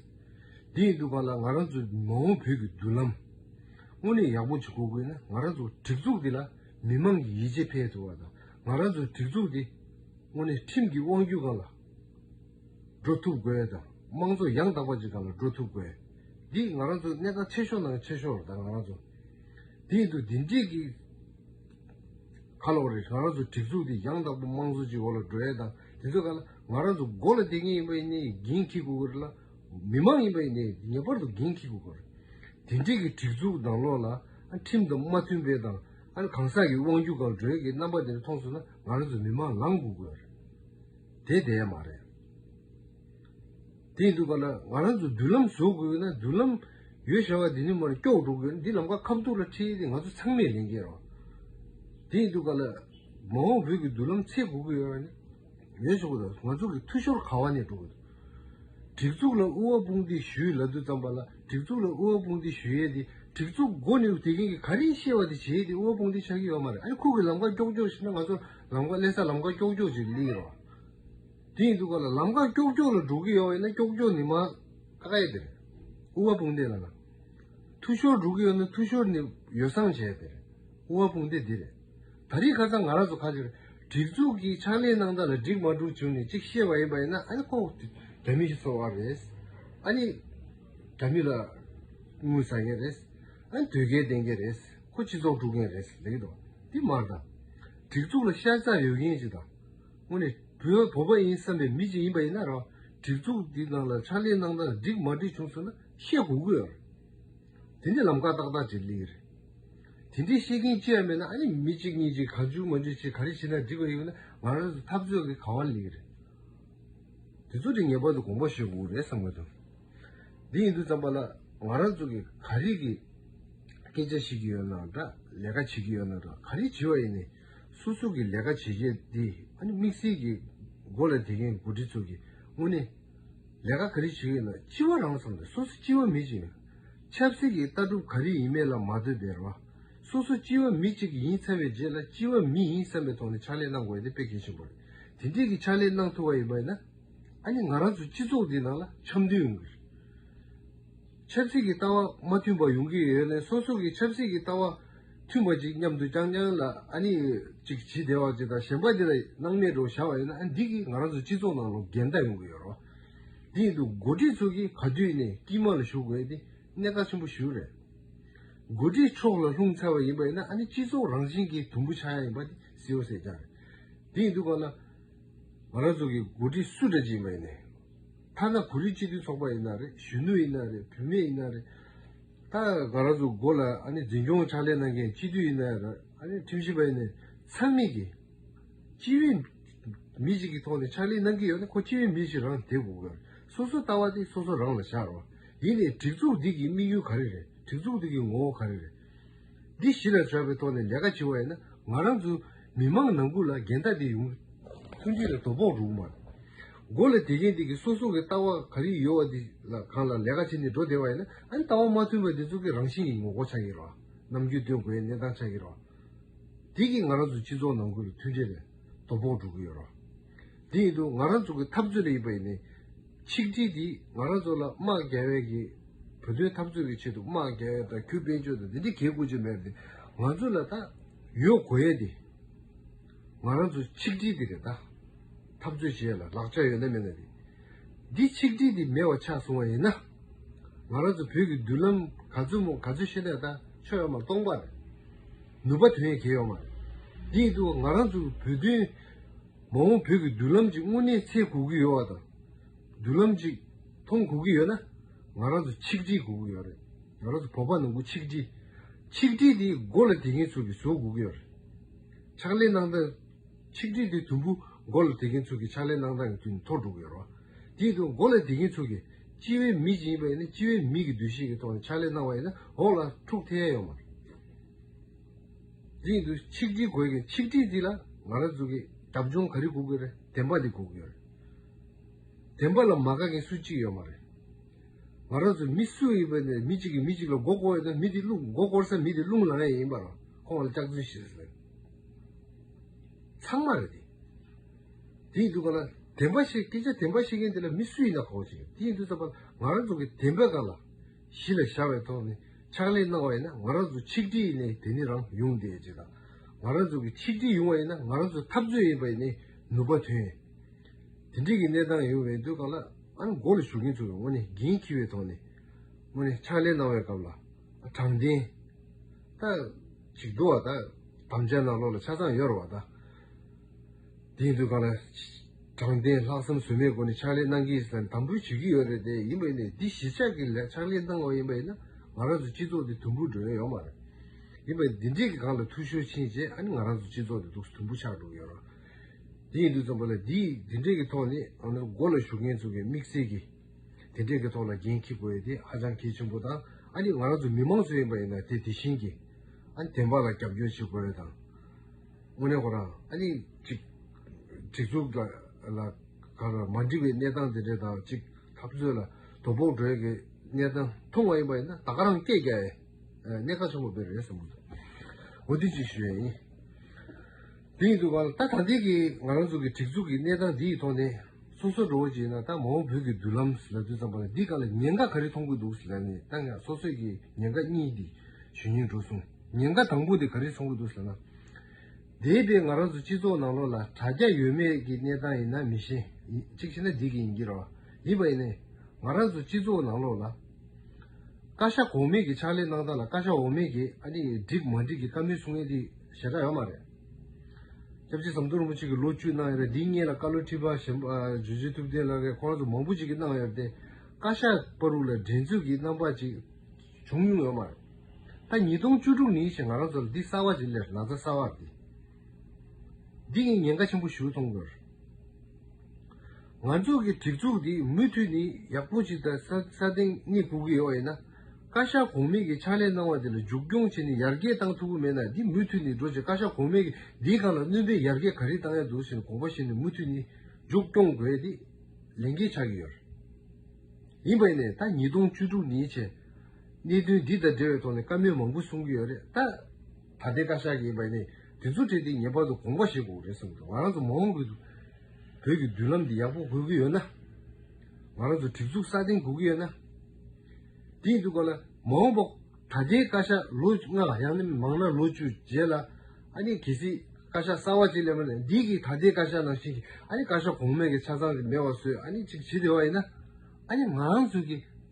S1: འདི་ཡི་འདུག་པ་ལ་ང་རང་ཚོ་མ་འོངས་བོད་ཀྱི་མདུན་ལམ། དངོས་གནས་ཡག་པོ་ཞིག་འགོ་དགོས་ན་ང་རང་ཚོ་སྒྲིག་འཛུགས་འདི་ལ་མི་མང་གི་ཡིད་ཆེས་འཕེལ་ཐུབ་པ་དང་ང་རང་ཚོ་སྒྲིག་འཛུགས་འདི་དངོས་གནས་ཁྲིམས་ཀྱི་དབང་བསྒྱུར་གང་ལ། འགྲོ་ཐུབ་དགོས་དང་དམངས་གཙོ་ཡང་དག་པ་ཅིག་ག་ལ་འགྲོ་ཐུབ་དགོས། འདི་ང་རང་ཚོ་གནད་འགག་ཆེ་ཤོས་ནང་ཆེ་ཤོས་རེད་ང་རང་ཚོ། དེ་འདུག་འདི་འགྲིག་གི་ག་ལོག་རེད་ང་རང་ཚོ་སྒྲིག་འཛུགས་འདི་ཡང་དག་པ་དམངས་གཙོ་ཅིག་འོག་ལ་འགྲོ་ཡས་དང་དེ་ཚོ་ག་ལ་ང་རང་ཚོ་མགོ་ལ་འདེགས་ངེས་ཡིན་པ་ཡིན་ནའི་འགན་འཁྱི་དགོས་རེད་ལ། མི་དམངས་ཡིན་པ་ཡིན་ནའི་ངེས་པར་དུ་འགན་འཁྱི་དགོས་རེད། དེ་འགྲིག་གི་སྒྲིག་འཛུགས་ནང་ལོག་ལ་ཁྲིམས་དང་མ་མཐུན་པའི་དང་གང་ཟག་གི་དབང་སྒྱུར་གང་འགྲོའི་གི་རྣམ་པ་འདི་འདྲ་མཐོང་སོང་ན། ང་རང་ཚོ་མི་དམངས་ལམ་འགུག་དགོས་རེད། དེ་བདེན་མ་རེད། དེ་ཡིན་དུས་པ་ན་ང་རང་ཚོ་མདུན་ལམ་བཟོ་དགོས་ཀྱི་ན་མདུན་ལམ་ཡོད་ཞེས་པ་འདི་ནི་མ་རེད་སྐྱོགས་འགྲོ་དགོས་འདི་ལམ་ཁ་ཁ་བསྡུར་ལ་ཁྲིད་དེ་ང་ཚོ་ཚང་མས་ལན་འཁྱེར་རོགས། དེ་ཡིན་དུས་པ་ན་མ་འོངས་བོད་ཀྱི་མདུན་ལམ་ཚད་དགོས་ཀྱི་ཡོད་པ་ནི་ཡོད་ཆོག་གི་རེད་ང་ཚོ་གི་འཐུས་ཤོར་ག་བ་ནས་འགྲོ་དགོས། སྒྲིག་འཛུགས་ལ་དབུ་བ་དཔུང་སྡེ་ཞུས་ལ་དུས་ཙམ་པ་ལ། སྒྲིག་འཛུགས་ལ་དབུལ་བ་དཔུང་སྡེ་ཞུ་ཡས་ཏེ་སྒྲིག་འཛུགས་མགོ་ནས་དེ་གིན་གི་ག་རིང་ཤེས་བ་དེ་བྱས་ཏེ་དབུལ་བ་དཔུང་སྡེ་ཆགས་ཀྱི་ཡོད་མ་རེད་ཨ་རི་ཁུག་གི་ལམ་ཁ་ཀྱོག་ཀྱོག་བྱས་ན་ང་ཚོར་ལམ་ཁ་ཀླད་ས་ལམ་ཁ་ཀྱོག་ཀྱོག་ཅིག་ཀླི་རོགས། དེ་ཡིན་དུས་ག་ལ་ལམ་ཁ་ཀྱོག་ཀྱོག་ལ་འགྲོ་གི་ཡོད་ཡིན་ན་ཀྱོག་ཀྱོག་ནི་མ་ཀ་ཡས་དེ་རེད། དབུལ་བ་དཔུང་སྡེ་ལ་ན་འཐུས་ཤོར་འགྲོ་གི་ཡོད་ན་འཐུས་ཤོར་ནི་ཡོ་སངས་བྱས་ཡས་དེ་རེད་དབུལ་བ་དཔུང་སྡེ་འདི་རེད། ད་རེས་ཁ་ཚང་ང་རང་ཚོ་ཁ་ཆེར་སྒྲིག་འཛུགས་ཀྱི་ཕྱག་ལས་གནང་སྟངས་ལ་འགྲིག་མ་འགྲུག་བྱུང་ནས་གཅིག་བཤད་པ་ཡིན་པ་ཡིན་ན་ཨ་ནི་ཁོང་དགྲ་མི་ཞིག་ཚོར་བ་རེད། ཨ་ནི་དགྲ་མི་ལ་དངུལ་ཟ་མཁན་རེད། ཨ་ནི་དོལ་རྒྱལ་བསྟེན་མཁན་རེད། ཁོ་སྤྱི་ཚོགས་དཀྲུག་མཁན་རེད་ལེགས་འགྲོ། འདི་མར་དང། སྒྲིག་འཛུགས་ལ་ཤ་ཚ་ཡོད་མཁན་ཞིག་དང། དངོས་ནས་བོད་བོད་པ་ཡིན་བསམ་པའི་མི་ཞིག་ཡིན་པ་ཡིན་ན་རང་སྒྲིག་འཛུགས་འདི་ནང་ལ་ཕྱག་ལས་གནང་སྟངས་ལ་འགྲིག་མ་འགྲིག་བྱུང་ཚུལ་ན་བཤད་དགོས་ཀྱི་ཡོད་རེད། དེ་འདྲའི་ལམ་ཀ་ཏག་ཏག་ཅིག་གླེང་གི་རེད། དེ་འདྲའི་ཤེས་མཁན་ཅི་ཡང་མེད་ན་ཨ་ནི་མི་གཅིག་གཉིས་ཀྱིས་གང་བྱུང་མ་བྱུང་ཆེད་ག་རེ་བྱེད་ན་འགྲིག་པ་ཡིན་པ་ནི་ང་རང་ཚོའི་འཐབ་རྩོད་ཀྱི་གང་བ་གླེང་གི་རེད། དེ་ཚོ་དེ་ངེས་པར་དུ་དགོངས་པ་བཞེས་དགོས་ཀྱི་རེད་བསམ་གྱི་འདུག་འདི་ཡིན་དུས་ཙམ་པ་ལ་ང་རང་ཚོ་གིས་ག་རེ་གི་སྐད་ཆ་བཤད་ཀྱི་ཡོད་ན་འདྲ་ལས་ཀ་བྱེད་ཀྱི་ཡོད་ན་འདྲ་ག་རེ་བྱེད་པ་ཡིན་ནས་སོ་སོ་གིས་ལས་ཀ་བྱེད་མཁན་དེ་ཨ་ནི་དམིགས་བསལ་གྱིས་མགོ་ལ་དེད་མཁན་མགོ་འཁྲིད་ཚོ་གིས་དངོས་གནས། ལས་ཀ་ག་རེ་བྱེད་ཀྱི་ན་ལྕི་བ་རང་བསམ་ཏེ་སོ་སོ་ལྕི་བ་མི་གཅིག་ཡིན། ཆབ་སྲིད་ཀྱི་ལྟ་གྲུབ་ག་རེ་ཡིན་མེད་ལ་མ་ལྟོས་པའི་རོ། སོ་སོ་ལྕི་བ་མི་གཅིག་ཡིན་ཚར་བའི་རྗེས་ལ་ལྕི་བ་མི་ཡིན་བསམ་པའི་ཐོག་ནས་ཕྱག་ལས་གནང་དགོས་ཏེ་དཔེ་གལ་ཆེན་པོ་རེད། དེ་འདྲིས་ཀྱི་ཕྱག་ལས་གནང་ཐུབ་པ་ཡིན་པ་ཡིན་ན། ཨ་ནི་ང་རང་ཚོའི་སྤྱི་ཚོགས་འདིའི་ནང་ལ་འཆམ་མཐུན་ཡོང་གི་རེད། ཆབ་སྲིད་ཀྱི་ལྟ་བ་མ་མཐུན་པ་ཡོང་གི་ཡོད་ནས་སོ་སོ་གི་ཆབ་སྲིད་ཀྱི་ལྟ་བ། མཐུན་པ་ཅིག་མཉམ་དུ་རྐྱང་རྐྱང་ལ་ཨ་ནི་ཅིག་བྱིས་བདེ་བ་ཅིག་དང་གཞན་པ་འདི་ལ་སྣང་མེད་འགྲོ་བྱ་བ་ཡོད་ན་ཨ་འདི་གིས་ང་རང་ཚོ་སྤྱི་ཚོགས་ནང་ལོ་འགལ་ཟླ་ཡོང་གི་ཡོད་རོ། དེ་ཡིན་དུ་འགོ་ཁྲིད་ཚོ་གིས་ག་དུས་ནས་དཀྱིལ་དམག་ལ་ཞུགས་དགོས་ཏེ་གནད་འགག་ཆེན་པོ་ཞིག་རེད། འགོ་ཁྲིད་ཕྱོགས་ལ་ལྷུང་ཚར་བ་ཡིན་པ་ཡིན་ན་ཨ་ནི་སྤྱི་ཚོགས་རང་བཞིན་གྱི་དུམ་བུ་ཆག་ཡ་ཡིན་པ་དེ་སྲིད་འོ་ཟེར་རྐྱང་རེད། དེ་ཡིན་དུ་བ་ལ་ང་རང་ཚོ་གིས་འགོ་ཁྲིད་སུ་འདྲ་ཅིག་ཡིན་པ་ཡིན་ནས། མཐའ་ན་གོ་རིགས་སྤྱི་མཐུན་ཚོགས་པ་ཡིན་ན་རེད་གཞོན་ནུ་ཡིན་ན་རེད་བུད་མེད་ཡིན་ན་རེད། ད་ག་རང་ཚོ་མགོ་ལ་འཛིན་སྐྱོང་ཕྱག་ལས་གནང་མཁན་སྤྱི་འཐུས་ཡིན་ནའི་རེད། ཁྲིམས་ཞིབ་པ་ཡིན་ནའི་ཚང་མིས་ཀྱིས། སྤྱི་བའི་མི་ཞིག་གི་ཐོག་ནས་ཕྱག་ལས་གནང་གི་ཡོད་ན་ཁོ་སྤྱི་བའི་མི་ཞིག་རང་དེ་དགོས་གི་རེད། སོ་སོ་ལྟ་བ་དེ་སོ་སོ་རང་ལ་བཞག་རོགས། ཡིན་ནའི་སྒྲིག་འཛུགས་འདི་གི་དམིགས་ཡུལ་ག་རེ་རེད། སྒྲིག་འཛུགས་འདི་གི་ངོ་བོ་ག་རེ་རེད། འདི་གཞི་ལ་འཇོག་པའི་ཐོག་ནས་ལས་ཀ་བྱེད་བ་ཡིན་ན་ང་རང་ཚོ་མི་དམངས་ནང་ཁུལ་ལ་འགལ་ཟླ་དེ་ཡོང་ཐུགས་འདི་ལ་དོ་ཕོག་རུང་མ་དགོས་ལ་དེ་གཞན་དེ་གི་སོ་སོ་གི་ལྟ་བ་ག་རེ་ཡོད་བ་དེ་ལ་གང་ལ་ལས་ཀ་བྱེད་ནས་འགྲོ་བདེ་བ་ཡིན་ན་ཨ་ནི་ལྟ་བ་མ་མཐུན་པ་དེ་ཚོ་གི་རང་བཞིན་གྱི་ངོ་རྒོལ་ཆགས་ཀྱི་རོགས་ནམ་རྒྱུས་སྟོན་དགོས་ཡའི་གནས་སྟངས་ཆགས་ཀྱི་རོགས་དེ་གི་ང་རང་ཚོ་སྤྱི་ཚོགས་ནང་ཁུལ་ལ་མཐུན་འབྲེལ་ལ་དོ་ཕོག་འགྲོ་གི་ཡོད་རོགས་དེ་ཡིན་དུ་ང་རང་ཚོ་གི་འཐབ་རྩོད་ལ་ཡིན་པ་ཡིན་ནའི་ཆིག་སྒྲིལ་འདིས་ང་རང་ཚོ་ལ་དམག་རྒྱལ་བས་ཀྱི་བོད་དོན་འཐབ་རྩོད་ཀྱི་ཆེད་དུ་དམག་རྒྱལ་བས་དང་གུས་པས་ཅོ་དང་དེ་འདྲའི་གེ་དགུ་ཅིག་མེད་དེ་ང་ཚོ་ལ་ད་ཡོད་དགོས་ཡས་དེ་ང་རང་ཚོ་ཆིག་སྒྲིལ་འདི་རེད་ད་འཐབ་རྩོད་བྱེད་ཡས་ལ་ལག་ཆ་ཡོད་ན་མེད་ན་དེ་འདི་ཆིག་སྒྲིལ་འདི་མེད་བ་ཆགས་སོང་བ་ཡིན་ན་ང་རང་ཚོ་བོད་ཀྱི་མདུན་ལམ་ག་ཚོད་མོ་ག་ཚོད་ཤེས་ན་ད་ཆོ་ཡོད་མ་རེད་སྟོང་པ་རེད་ནུབ་པ་དོན་གེ་ཡོད་མ་རེད་དེ་ཡིན་དུ་ང་རང་ཚོ་བོད་དོན། མ་འོངས་བོད་ཀྱི་མདུན་ལམ་ཅིག་དངོས་གནས་འཚེ་དགོས་ཀྱི་ཡོད་བ་དང། མདུན་ལམ་ཅིག་མཐོང་དགོས་ཀྱི་ཡོད་ན། ང་རང་ཚོ་ཆིག་སྒྲིལ་དགོས་ཀྱི་ཡོད་རེད། ང་རང་ཚོ་བོད་པ་ནང་ཁུལ་ཆིག་སྒྲིལ། ཆིག་སྒྲིལ་དེ་མགོ་ལ་དེད་མཁན་ཚོ་གིས་བཟོ་དགོས་ཀྱི་ཡོད་རེད། ཕྱག་ལས་གནང་སྟངས། ཆིག་སྒྲིལ་དེ་དུམ་བུ་མགོ་ལ་དེད་མཁན་ཚོ་གིས་ཕྱག་ལས་གནང་སྟངས་ཀྱི་དུས་ནས་ཐོག་འགྲོ་གི་ཡོད་རེད། དེའི་ཐོག་མགོ་ལ་དེད་མཁན་ཚོ་གིས་སྤྱི་བའི་མི་ཅིག་ཡིན་པ་ཡིན་ན་སྤྱི་བའི་མི་གི་འདུ་ཤེས་ཀྱི་ཐོག་ནས་ཕྱག་ལས་གནང་བ་ཡིན་ན་འོག་ལ་འཁྲུག་ཐལ་ཡོད་མ་རེད། རིང་དུ་ཆིག་སྒྲིལ་དགོས་གི་ཆིག་སྒྲིལ་འདི་ལ་ང་རང་ཚོ་གི་འདབ་ཆུང་ག་རེ་སྒུག་གི་རེད་བདེན་པ་འདི་སྒུག་གི་རེད། བདེན་པ་ལ་མ་དགའ་མཁན་སུ་གཅིག་ཡོད་མ་རེད། ང་རང་ཚོ་མི་སུ་ཡིན་པ་ནས་མི་གཅིག་གིས་མི་གཅིག་ལ་མགོ་བསྐོར་ཡོད་ན་མི་དེ་བསླུ་མགོ་བསྐོར་ས་མི་དེ་བསླུ་ལང་ཡས་ཡིན་པ་རང་ཁོང་ལ་སྐྱག་རྫུན་བཤད་ས་རེད། ཚང་མ་རེད་དེ། དེ་ཡིན་དུས་གང་ལ་བདེན་པ་བཤད་སྐད་ཆ་བདེན་པ་བཤད་མཁན་དེ་ལ་མི་སུ་ཡིན་ན་གོ་བ་ཅིག་རེད་དེ་ཡིན་དུས་ཙམ་པ་ལ་ང་རང་ཚོ་གི་བདེན་པའི་སྒང་ལ། གཞི་ལ་བཞག་པའི་ཐོག་ནས་ཕྱག་ལས་གནང་བ་ཡིན་ན་ང་རང་ཚོ་ཆིག་སྒྲིལ་ནས་དེ་ནི་རང་ཡོང་བདེ་སྐྱིད་དང། ང་རང་ཚོ་གི་ཆིག་སྒྲིལ་ཡོང་བ་ཡིན་ན་ང་རང་ཚོ་འཐབ་རྩོད་ཡིན་པ་ནི་ནུབ་པ་དོན། དེ་འདྲིས་ཀྱི་གནས་སྟངས་ཡོང་བའི་དུས་སྐབས་ལ་ང་རང་འགོ་ལ་ཞུགས་མཁན་ཚོ་ཡང་ངོ་ནས་འགན་འཁྱི་བའི་ཐོག་ནས་ངོ་ནས་ཕྱག་ལས་གནང་བའི་སྐབས་ལ་དྲང་བདེན་དང། ཞིག་འདུ་བ་དང་དམ་བཅའ་ནང་ལོག་ལ་ཆ་ཚང་ཡོད་རུང་བ་དང། དེ་དུས་གང་ལ་དྲང་བདེན་ལྷག་བསམ་ཟོལ་མེད་སྒོ་ནས་ཕྱག་ལས་གནང་གི་དང་དམ་འབུལ་བྱེད་ཀྱི་ཡོད་རེད་དེ་ཡིན་པ་ཡིན་ནའི་འདི་གཞིས་ཆགས་ཀྱི་ལས་ཕྱག་ལས་གནང་བ་ཡིན་པ་ཡིན་ན་ང་རང་ཚོ་སྤྱི་ཚོགས་འདི་དུམ་བུར་འགྲོ་ཡོན་ཡོད་མ་རེད། ཡིན་པ་འདི་འདྲས་ཀྱི་གང་ལ་ཐུགས་ཤོར་ཕྱིན་རྗེས་ཨ་ནི་ང་རང་ཚོ་སྤྱི་ཚོགས་འདི་སྡུག་ས་དུམ་བུ་ཆགས་འགྲོ་གི་ཡོད་རང་དེ་ཡིན་དུས་ཙམ་པོ་ལ་འདི་འདི་འདྲས་ཀྱི་ཐོག་ནས་ཨ་ནི་སྒོ་ལ་ཞུགས་མཁན་ཚོ་གི་དམིགས་བསལ་གྱི་དེ་འདྲས་ཀྱི་ཐོག་ལ་འགན་འཁྱེར་དགོས་ཡོད་དེ་ཧ་ཅང་གལ་ཆེན་པོ་དང་ཨ་ནི་ང་རང་ཚོ་མི་མང་ཚོ་ཡིན་པ་ཡིན་ན་དེ་དེ་བཞིན་གྱི་ཨ་ནི་དེ་འབའ་ལ་རྒྱབ་སྐྱོར་བྱེད་དགོས་རེད་དང། དངོས་གནས་ཁོ་རང་ཨ་ནི་གཅིག་སྒྲིག་འཛུགས་ལ་དགའ་ལ་མ་འགྲིག་པའི་གནས་སྟངས་འདི་འདྲའི་དང་གཅིག་འཐབ་རྩོད་ལ་དོ་ཕོག་འགྲོའི་གི་གནས་སྟངས་མཐོང་བ་ཡིན་པ་ཡིན་ན་ད་ག་རང་སྐད་རྒྱག་ཨེ། གནད་ཁ་ཆེན་པོ་འདི་རེད་བསམ་གྱི་འདུག་འོ་དེ་ཅིག་ཞུ་ཡ་ཡིན། དེ་ཡིན་དུ་བ་ལ་ད་ད་ལྟའི་གི་ང་རང་ཚོ་གི་སྒྲིག་འཛུགས་ཀྱི་གནས་སྟངས་འདི་ཡི་ཐོག་ནས་སོ་སོ་འགྲོ་བོ་ཅིག་ཡིན་ན་ད་མ་འོངས་བོད་ཀྱི་མདུན་ལམ་ཟེར་ན་དུས་ཙམ་པ་ལ་འདི་ག་ལ་ཉེན་ཁ་ག་རེ་མཐོང་གི་འདུག་ཟེར་ན་ནི་ད་ངས་སོ་སོས་གི་ཉེན་ཁ་གཉིས་འདི་ཞུ་སྙིང་འགྲོ་སོང། ཉེན་ཁ་དང་པོ་དེ་ག་རེ་བྱུང་གི་འདུག་ཟེར་ན། འདས་པའི་ང་རང་ཚོ་སྤྱི་ཚོགས་ནང་ལོགས་ལ་དྲ་རྒྱ་ཡོད་མེད་ཀྱི་གནས་སྟངས་ཡིན་ན་མི་ཤེས། གཅིག་ཤེས་ན་འགྲིག་གི་ཡིན་གྱི་རེད། ཡིན་པ་ཡིན་ནའི། ང་རང་ཚོ་སྤྱི་ཚོགས་ནང་ལོགས་ལ། བཀའ་ཤག་གོང་མས་ཀྱི་ཕྱག་ལས་གནང་སྟངས་ལ་བཀའ་ཤག་འོག་མས་ཀྱི་ཨ་ནི་འགྲིག་མ་འགྲིག་གི་བཀའ་མོལ་གསུང་མཁན་དེ་ཞེ་དྲག་ཡོད་མ་རེད། སྐྱབས་རྗེ་ཟམ་གདོང་རིན་པོ་ཆེ་གི་ལོ་བཅུ་གནང་ཡོད་རེད་འདི་གཉིས་ལ་བཀའ་བློན་ཁྲི་པ་གཞོན་པ་ཇོ་ཇོ་ཐུབ་བསྟན་ལགས་རེད་ཁོང་རང་ཚོ་མང་པོ་ཅིག་གིས་གནང་ཡོད་རེད་དེ། བཀའ་ཤག་པ་རུ་ལ་འགྲན་རྩོད་ཀྱི་རྣམ་པ་ཅིག་བྱུང་མྱོང་ཡོད་མ་རེད། ད་ཉིས་སྟོང་བཅུ་དྲུག་ནི་ཞེས་ང་རང་ཚོ་ལ་འདི་གསར་བ་ཞིག་ལས་ན་ཚ་གསར་བར་འདི་འདི་ངས་ཉེན་ཁ་ཆེན་པོ་ཞུ་ཐོང་དགོས། ང་ཚོ་གི་སྒྲིག་འཛུགས་འདི་མུ་མཐུད་ནི་ཡག་པོ་ཞིག་དང་ས་སྟེང་གཉིད་སྤུ་གི་ཡོ་ཡིན་ན་བཀའ་ཤག་གོང་མེད་ཀྱི་ཕྱག་ལས་གནང་བ་འདི་ལ་འཇུག་སྐྱོང་བྱེད་ནི་ཡར་རྒྱས་བཏང་ཐུབ་པོ་མེད་ན་འདི་མུ་མཐུད་ནི་འགྲོ་ཞིང་བཀའ་ཤག་གོང་མེད་ཀྱི་འདིའི་སྒང་ལ་བསྣུན་པའི་ཡར་རྒྱས་ག་རིགས་བཏང་ཡ་འདུག་ཟེར་ནས་དགོངས་པ་བཞེས་ནས་མུ་མཐུད་ནི་འཇུག་སྐྱོང་དགོས་འདི་ལས་འགན་ཆགས་ཀྱི་ཡོད། ཡིན་པས་ནས་ད་ཉིས་སྟོང་བཅུ་དྲུག་ནི་ཞེས། གནད་དོན་འདི་དང་འབྲེལ་བའི་ཐོག་ནས་བཀའ་མོལ་མང་པོ་གསུང་གི་ཡོད་རེད་ད། ད་ལྟའི་བཀའ་ཤག་གིས་འདི་ཚོ་ཁྲིད་དེ་ངེས་པར་དུ་དགོངས་པ་བཞེས་དགོས་རེད་བསམ་འདུག་ང་རང་ཚོ་མ་འོངས་པའི་བོད་ཀྱི་མདུན་ལམ་དེ་ཡག་པོ་དགོས་ཀྱི་ཡོད་ན། ང་རང་ཚོ་སྒྲིག་འཛུགས་སྲ་བརྟན་དགོས་ཀྱི་ཡོད་ན། དེ་ཡིན་དུས་སྐོར་ལ་མ་འོངས་པ་ད་ལྟའི་བཀའ་ཤག་ལོ་ལྔ་ཡང་ན་མང་ན་ལོ་བཅུ་རྗེས་ལ་ཨ་ནི་གལ་སྲིད་བཀའ་ཤག་གསར་བ་ཅིག་སླེབས་ན་འདི་གིས་ད་ལྟའི་བཀའ་ཤག་ནང་བཞིན་གྱིས་ཨ་ནི་བཀའ་ཤག་གོང་མས་ཀྱི་ཆ་ཚང་གི་མེད་བ་བཟོས་ཨ་ནི་ཅིག་བྱེད་བདེ་བ་ཡིན་ན། ཨ་ནི་ང་རང་ཚོ་གིས།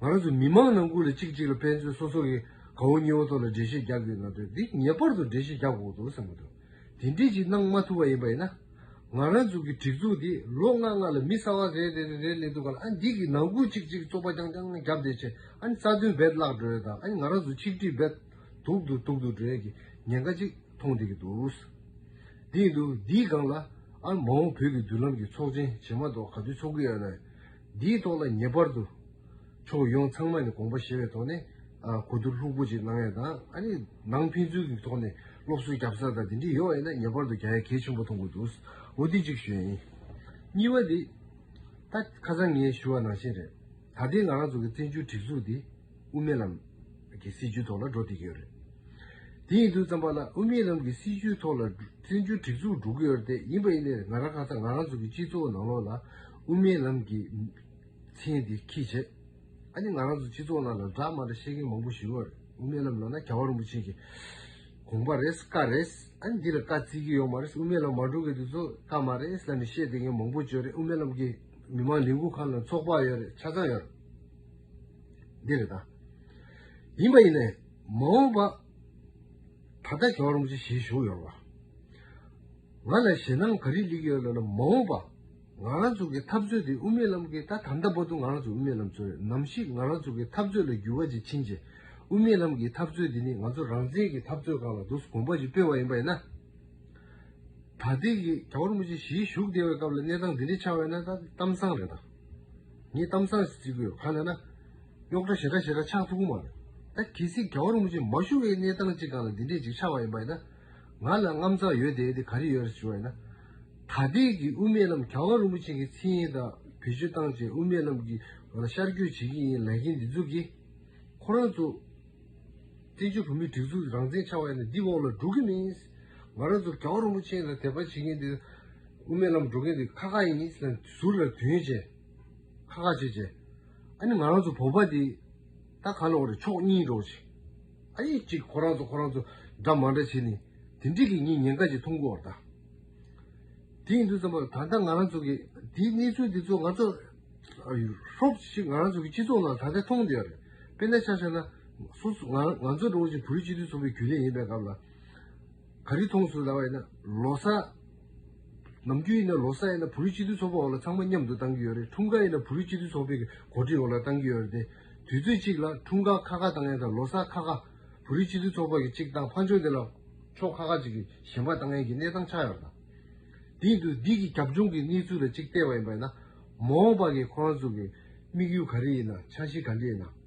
S1: ང་རང་ཚོ་མི་མང་ནང་ཁུལ་ལ་གཅིག་གཅིག་ལ་ཕན་ཚུན་སོ་སོ་གིས་གང་བོ་གཉིས་བོ་ཐོག་ལ་འགྲེལ་བཤད་རྒྱག་དགོས་ན་དོན་འདི་ངེས་པར་དུ་འགྲེལ་བཤད་རྒྱག་དགོས་འདུག་བསམ་གྱི་འདུག་དེ་འདྲས་ཅིག་གནང་མ་ཐུབ་པ་ཡིན་པ་ཡིན་ན། ང་རང་ཚོ་གི་སྒྲིག་འཛུགས་འདི་ལོ་ལྔ་ལྔ་ལ་མི་གསར་བ་རེ་རེ་རེ་རེ་ལས་འདུག་ག་ལ་ཨ་འདི་གི་ནང་ཁུལ་གཅིག་གཅིག་ཙོག་པ་རྐྱང་རྐྱང་བརྒྱབ་བསྡད་ཆེད་ཨ་རྩ་དོན་རྦད་བརླག་འགྲོ་ཡོད་དང་ཨ་ང་རང་ཚོ་ཆིག་སྒྲིལ་རྦད་དུག་ཏུ་དུག་ཏུ་འགྲོ་ཡོད་ཀྱི་ཉེན་ཁ་གཅིག་མཐོང་བསྡད་ཀྱི་འདུག་བསྡད་ཀྱི་འདུག་འདིའི་སྒང་ལ་ཨ་མ་འོངས་བོད་ཀྱི་མདུན་ལམ་གྱི་ཚོགས་ཆེན་བྱེད་མ་གཏོགས་ག་དུས་ཚོགས་ཀྱི་ཡོད་ལ། འདིའི་ཐོག་ལ་ངེས་པར་དུ་ཕྱོགས་ཡོངས་ཚང་མ་ནས་དགོངས་པ་བཞེས་པའི་ཐོག་ནས་གོ་བསྡུར་ལྷུག་པོ་ཅིག་གནང་ཡས་དང་ཨ་རིའི་ནང་ཕན་ཚུན་གྱི་ཐོག་ནས་སློབ་གསོའི་རྒྱབ་རྩ་དང་དེ་འདྲས་ཡོང་ཡས་ན་ངེས་པར་དུ་རྒྱ་ཡ་གལ་ཆེན་པོ་མཐོང་དགོས་འདུག་འོ་དེ་གཅིག་ཞུ་ཡ་ཡིན། གཉིས་པ་དེ། ད་ཁ་སང་ངས་ཞུ་བ་ནང་བཞིན་རེད། ད་ལྟའི་ང་རང་ཚོ་གི་བཙན་བྱོལ་སྒྲིག་འཛུགས་འདི། དབུ་མའི་ལམ་གྱི་སྲིད་བྱུས་ཐོག་ལ་འགྲོ་ཐུབ་ཀྱི་ཡོད་རེད། དེ་ཡིན་དུས་བརྩམས་པ་ལ་དབུ་མའི་ལམ་གྱི་སྲིད་བྱུས་ཐོག་ལ་བཙན་བྱོལ་སྒྲིག་འཛུགས་འགྲོ་གི་ཡོད་རེད་དེ་ཡིན་པ་ཡིན་ནའི་ང་རང་ཁ་སང་ང་རང་ཚོ་གི་སྤྱི་ཚོགས་ནང་ལོགས་ལ་དབུ་མའི་ལམ་གྱི་མཚན་དེ་ཁིས་བྱེད་ཨ་ནི་ང་རང་ཚོ་སྤྱི་ཚོགས་ནང་ལ་འདྲ་མ་འདྲ་བཤད་མཁན་མང་པོ་ཞིག་ལོགས་རེད་དབུ་མའི་ལམ་ལོགས་ན་ག་བ་རིན་པོ་ཆེ་གི་དགོངས་པ་རེད་བཀའ་རེད་ཨ་ནི་འདི་ལ་བཀའ་བརྩི་གི་ཡོད་མ་རེད་དབུ་མའི་ལམ་མ་འགྲོ་གི་དུས་ཚོད་བཀའ་མ་རེད་ལ་ནི་བཤད་བསྡད་མཁན་མང་པོ་བྱོས་རེད་དབུ་མའི་ལམ་གྱི་མི་མང་ལས་འགུལ་ཁང་ནང་ཚོགས་པ་ཡོད་རེད་ཆ་ཚང་ཡོད་རེད། འདི་རེད་ད། ཡིན་པ་ཡིན་ནས་མ་འོངས་པ། ད་ལྟ་གྱོང་རོང་ཅི་ཞིག་བྱུང་ཡོད་པ། ང་ལ་ཞེད་སྣང་ག་རེ་ལེགས་ཡོད་ལ་ལ་མ་འོངས་པ། ང་རང་ཚོ་གི་འཐབ་རྩོད་དེ་དབུ་མའི་ལམ་གི་ད་དམ་ད་བོ་དུ་ང་རང་ཚོ་དབུ་མའི་ལམ་ཚོ་རེད་ནམ་ཞིག་ང་རང་ཚོ་གི་འཐབ་རྩོད་ལ་འགྱུར་བ་ཅིག་ཕྱིན་རྗེས་དབུ་མའི་ལམ་གི་འཐབ་རྩོད་དེ་ནི་ང་ཚོ་རང་བཙན་གི་འཐབ་རྩོད་གང་ལ་འདུག་གསུངས་གོམ་པ་ཅིག་སྤོས་བ་ཡིན་པ་ཡིན་ན། ད་ལྟའི་གྱོང་རོང་ཅི་ཞིག་བཞུགས་བསྡད་པའི་སྐབས་ལ་གནས་སྟངས་འདི་འདྲ་ཆགས་ཡོད་ན་ད་གཏམ་བཟང་རེད་ད། ངས་གཏམ་བཟང་ཞིག་བྲིས་དགོས་གང་ལེགས་ན། གཡོག་འདྲ་ཞེ་དྲག་ཞེ་དྲག་ཆགས་ཐུབ་གི་མ་རེད། ད་གལ་སྲིད་རྒྱ་གར་རིན་པོ་ཆེ་མ་བཞུགས་པའི་གནས་སྟངས་ཅིག་གང་ལ་འདི་འདྲས་ཅིག་ཆགས་པ་ཡིན་པ་ཡིན་ན། ང་ལ་རྔམ་བརྫངས་ཡོད་དེ་དེ་ག་རེ་ཡོད་རེད་ཞུ་བ་ཡིན་ན། ད་ལྟའི་གི་དབུ་མེད་རྣམས་གྱ་བ་རིན་པོ་ཆེ་གི་ཚིག་ཡིན་ད་བེད་སྤྱོད་བཏང་བཅས་དབུ་མེད་རྣམས་ཀྱི་ང་ལ་ཤར་བསྐྱོད་བྱེད་ཀྱི་ཡིན་ལས་མཁན་འདི་ཚོ་གིས། ཁོ་རང་ཚོ། བཙན་བྱོལ་བོད་མིའི་སྒྲིག་འཛུགས་རང་བཙན་ཆགས་པ་ཡིན་ན་འདི་འོག་ལ་འགྲོ་གི་མིན། ང་རང་ཚོ་གྱ་བ་རིན་པོ་ཆེ་ལ་དད་པ་བྱེད་མཁན་འདི། དབུ་མའི་ལམ་འགྲོ་མཁན་དེ་ཁ་ཁ་ཡིན་ནི་ཟེར་ནས་ཟུར་ལ་དོན་བྱས། ཁ་ཁ་བྱས་བྱས། ཨ་ནི་ང་རང་ཚོ་བོད་པ་དེ་ད་ག་ལ་འོག་རེད་ཕྱོགས་གཉིས་འགྲོ་བྱས། ཨ་ཡིག་གཅིག་ཁོ་རང་ཚོ་ཁོ་རང་ཚོ་འདྲ་མ་འདྲ་བྱས་ནས་དེ་འདྲས་ཀྱི་ངས་ཉེན་ཁ་ཅིག་མཐོང་གི་འོག་ད་དེ་ཡིན་དུས་ཙམ་པར་ད་ལྟ་ང་རང་ཚོ་གི་དེའི་གནས་ཚུལ་དེ་ཚོ་ང་ཚོ་ཧྲོབ་ཤིག་ང་རང་ཚོ་གི་སྤྱི་ཚོགས་ནང་ད་ལྟ་མཐོང་བསྡད་ཡོད་རེད། དཔེར་ན་ཆ་བཤད་ན་སོ་སོ་ང་ཚོ་འགྲོ་བ་ཆེན་བོད་སྤྱི་མཐུན་ཚོགས་པའི་རྒྱུན་ལས་ཡིན་པའི་སྐབས་ལ། ག་རེ་མཐོང་སོང་ཟླ་བ་ཡིན་ན་ལོ་སར། ནམ་རྒྱུན་ཡིན་ན་ལོ་སར་ཡིན་ན་བོད་རིགས་སྤྱི་འཐུས་ཚོགས་པ་འོག་ལ་ཚང་མ་མཉམ་དུ་བཏང་གི་ཡོད་རེད་འཁྲུངས་སྐར་ཡིན་ན་བོད་རིགས་སྤྱི་འཐུས་ཚོགས་པའི་གོ་སྒྲིག་འོག་ལ་བཏང་གི་ཡོད་རེད་དེ། དུས་ཚོད་གཅིག་ལ་འཁྲུངས་སྐར་ཁ་ཁ་བཏང་ཡང་དང་ལོ་སར་ཁ་ཁ། བོད་རིགས་སྤྱི་འཐུས་ཚོགས་པ་གི་གཅིག་བཏང་ཕར་འཕྱོང་དེ་ལ་ཕྱོགས་ཁ་ཁ་ཅིག་གི་གཞན་པ་བཏང་ཡན་གྱི་གནས་སྟངས་ཆགས་ཡོད་རེད་དང། དེ་ཡིན་དུས་འདི་གི་རྒྱབ་ལྗོངས་ཀྱི་གནས་ཚུལ་ལ་གཅིག་བལྟས་པ་ཡིན་པ་ཡིན་ན། མ་འོངས་པ་གི་ཁོ་རང་ཚོ་གི་དམིགས་ཡུལ་ག་རེ་ཡིན་ན་འཆར་གཞི་ག་འདྲི་ཡིན་ན།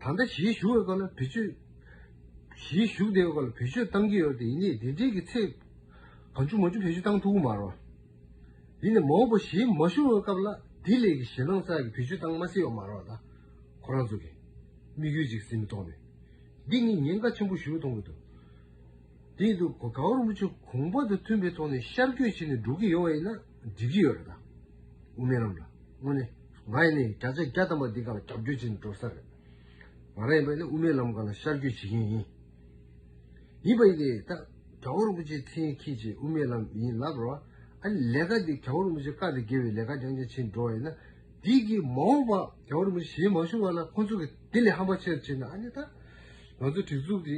S1: ད་ལྟ་གཞིས་བཞུགས་ཡོད་སྐོར་ལ་བེད་སྤྱོད། གཞིས་བཞུགས་བདེ་ཡོད་སྐོར་ལ་བེད་སྤྱོད་བཏང་གི་ཡོད་དེ་ཡིན་ནའི་དེ་འབྲེལ་གྱི་ཚེ། གང་བྱུང་མ་བྱུང་བེད་སྤྱོད་བཏང་ཐུབ་མ་རོགས། ཡིན་ནའི་མ་འོངས་པ་གཞིས་མ་བཞུགས་ཡོད་སྐབས་ལ་དེ་ལས་གཞི་སྣང་ས་ཀྱི་བེད་སྤྱོད་བཏང་མ་སྲིད་ཡོད་མ་རོགས་ད་ཁོ་རང་ཚོ་གི། དམིགས་ཡུལ་གཅིག་ཟིན་མི་ཐོག་ནས། འདི་ནི་ཉེན་ཁ་ཆེན་པོ་ཞུ་ཐོང་གི་འདུག། དེ་ཡིན་དུས་ག་བར་མུ་ཆོ་གུང་བ་དང་མཐུན་པའི་ཐོག་ནས་ཤར་བསྐྱོད་བྱས་ནས་འགྲོ་གི་ཡོད་བ་ཡིན་ན་འགྲིག་གི་ཡོད་རེད་ད། དབུ་མའི་ལམ་ལ་དངོས་གནས་ང་ཡིན་ནའི་བརྒྱ་ཆ་བརྒྱ་ཐམ་པ་འདི་ག་ལ་རྒྱབ་སྐྱོར་བྱས་ནས་འགྲོ་ས་རེད། ང་རང་ཡིན་པ་ཡིན་ན་དབུ་མའི་ལམ་ག་ལ་ཤར་བསྐྱོད་བྱེད་མཁན་ཡིན། ཡིན་པ་ཡིན་ཏེ་ད་ག་བར་མུ་ཆོས་འཐེན་ཁྱེད་ཀྱིས་དབུ་མའི་ལམ་ཡིན་ལབ་རོགས་ཨ། ཨ་ནི་ལས་ཀ་འདི་ག་བར་མུ་ཆོས་བཀག་སྟེ་དགེ་བའི་ལས་ཀ་རྐྱང་རྐྱང་བྱེད་འགྲོ་བ་ཡིན་ན་འགྲིག་གི་མ་འོངས་པ་ག་བར་མུ་ཆོས་བྱེད་མ་བྱུང་བ་ལ་ཁོ་ཚོ་གིས་དེ་ལས་ཧམ་པ་ཆེ་རུ་བྱེད་ན་ཨ་ནི་ད་ང་ཚོ་སྒྲིག་འཛུགས་འདི་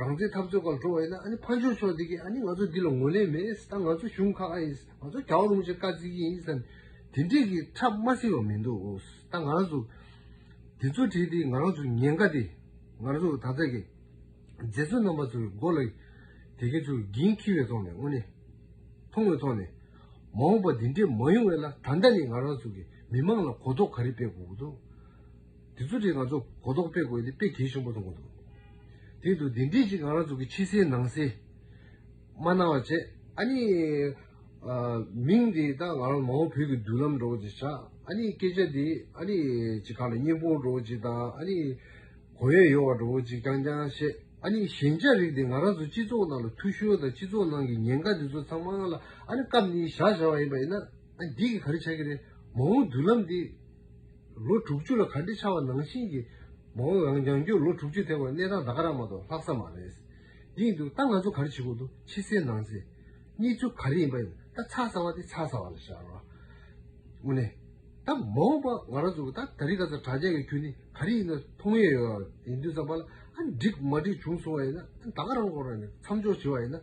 S1: རང་བཙན་འཐབ་རྩོད་སྐབས་འགྲོ་བ་ཡིན་ན་ཨ་ནི་ཕར་འབྱོར་ཆོག་འདི་གིས་ཨ་ནི་ང་ཚོ་འདི་ལ་ངོས་ལེན་མེད་ད་ང་ཚོ་གཞུང་ཁག་ཨ་ཡིན་ང་ཚོ་གྱ་བ་རུང་ཆེ་དཀའ་བརྩི་གི་ཡིན་ཟེར་ནས་དེ་འདྲས་ཀྱི་ཁྲབ་དམའ་སེ་བ་མི་འདུག་ད་ང་རང་ཚོ་དེ་ཚོ་བྲིས་ཏེ་ང་རང་ཚོ་ཉེན་ཁ་དེ་ང་རང་ཚོ་ད་ལྟ་གི་མཛེས་ཚོ་རྣམ་པ་ཚོའི་མགོ་ལ་དེ་སྐད་ཚུར་འགྱིང་འཁྱིལ་བའི་ཐོག་ནས་དངོས་གནས་མཐོང་བའི་ཐོག་ནས་མ་འོངས་པ་འདི་འདྲས་མ་ཡོང་བས་ལ་ད་ལྟ་ནས་ང་རང་ཚོ་གི་མི་མང་ལ་གོ་རྟོགས་ག་རེ་སྤེལ་དགོས་ཀྱི་འདུག། དེ་ཚོ་དེ་ང་ཚོ་གོ་རྟོགས་སྤེལ་དགོས་ཏེ་དཔེ་གལ་ཆེན་པོ་ཐོན་གོ་འདུག་དེ་འདུག་དེ་འདྲས་ཅིག་ང་རང་ཚོ་གི་ཕྱི་གསལ་ནང་གསལ་མ་གནང་བ་བྱས། ཨ་ནི། མིང་དེ་དག་ང་རང་མ་འོངས་བོད་ཀྱི་མདུན་ལམ་འགྲོ་བ་ཅིག་བྱ། ཨ་ནི་སྐད་ཆ་དེ་ཨ་ནི་ཅིག་ག་ལ་སྙན་པོ་འགྲོ་བ་ཅིག་དང་ཨ་ནི། གོ་ཡ་ཡོད་བ་འགྲོ་བ་ཅིག་རྐྱང་རྐྱང་བཤད། ཨ་ནི་ཞན་ཆ་རིགས་དེ་ང་རང་ཚོ་སྤྱི་ཚོགས་ནང་ལ་འཐུ་ཤོར་དང་སྤྱི་ཚོགས་ནང་གི་ཉེན་ཁ་དེ་ཚོ་ཚང་མ་ལ་ཨ་ནི་སྐབས་འདིའི་བཞག་བྱ་བ་ཡིན་པ་ཡིན་ན། ཨ་འདི་གི་ག་རེ་བྱ་གི་རེད། མ་འོངས་མདུན་ལམ་འདི། ལོ་དྲུག་ཅུ་ལ་ག་འདྲི་ཆགས་བ་ནང་བཞིན་གྱི། མ་འོངས་རང་རྐྱང་རྒྱུར་ལོ་དྲུག་ཅུ་ཐེག་པར་གནས་སྟངས་ད་ག་རང་མ་གཏོགས་ལྷག་ས་མ་རེད། ཡིན་འདུག་ད་ང་ཚོ་ག་རེ་བྱེད་དགོས་འདུག་ཕྱི་གསལ་ནང་གསལ། གཉིས་ཚུལ་ག་རེ་ཡིན་པ་ཡིན་ད་ཚགས་ཚ་བ་དེ་ཚགས་ཚ་བ་ལ་བཞག་རོགས། དངོས་གནས། ད་མ་འོངས་པ་ང་རང་ཚོ་ད་རི་ག་ཚོ་དྲག་ཆས་ཀྱི་ཁྱོད་ནི་ག་རེ་ཡིན་ན་མཐོང་ཡས་ཡོད་ཨ་ཡིན་དུས་ཙམ་པ་ལ་ཨ་འགྲིག་མ་འགྲིག་བྱུང་སོང་བ་ཡིན་ན་ད་ག་རང་སྐོར་ནས་མཚམས་འཇོག་བྱེད་བ་ཡིན་ན།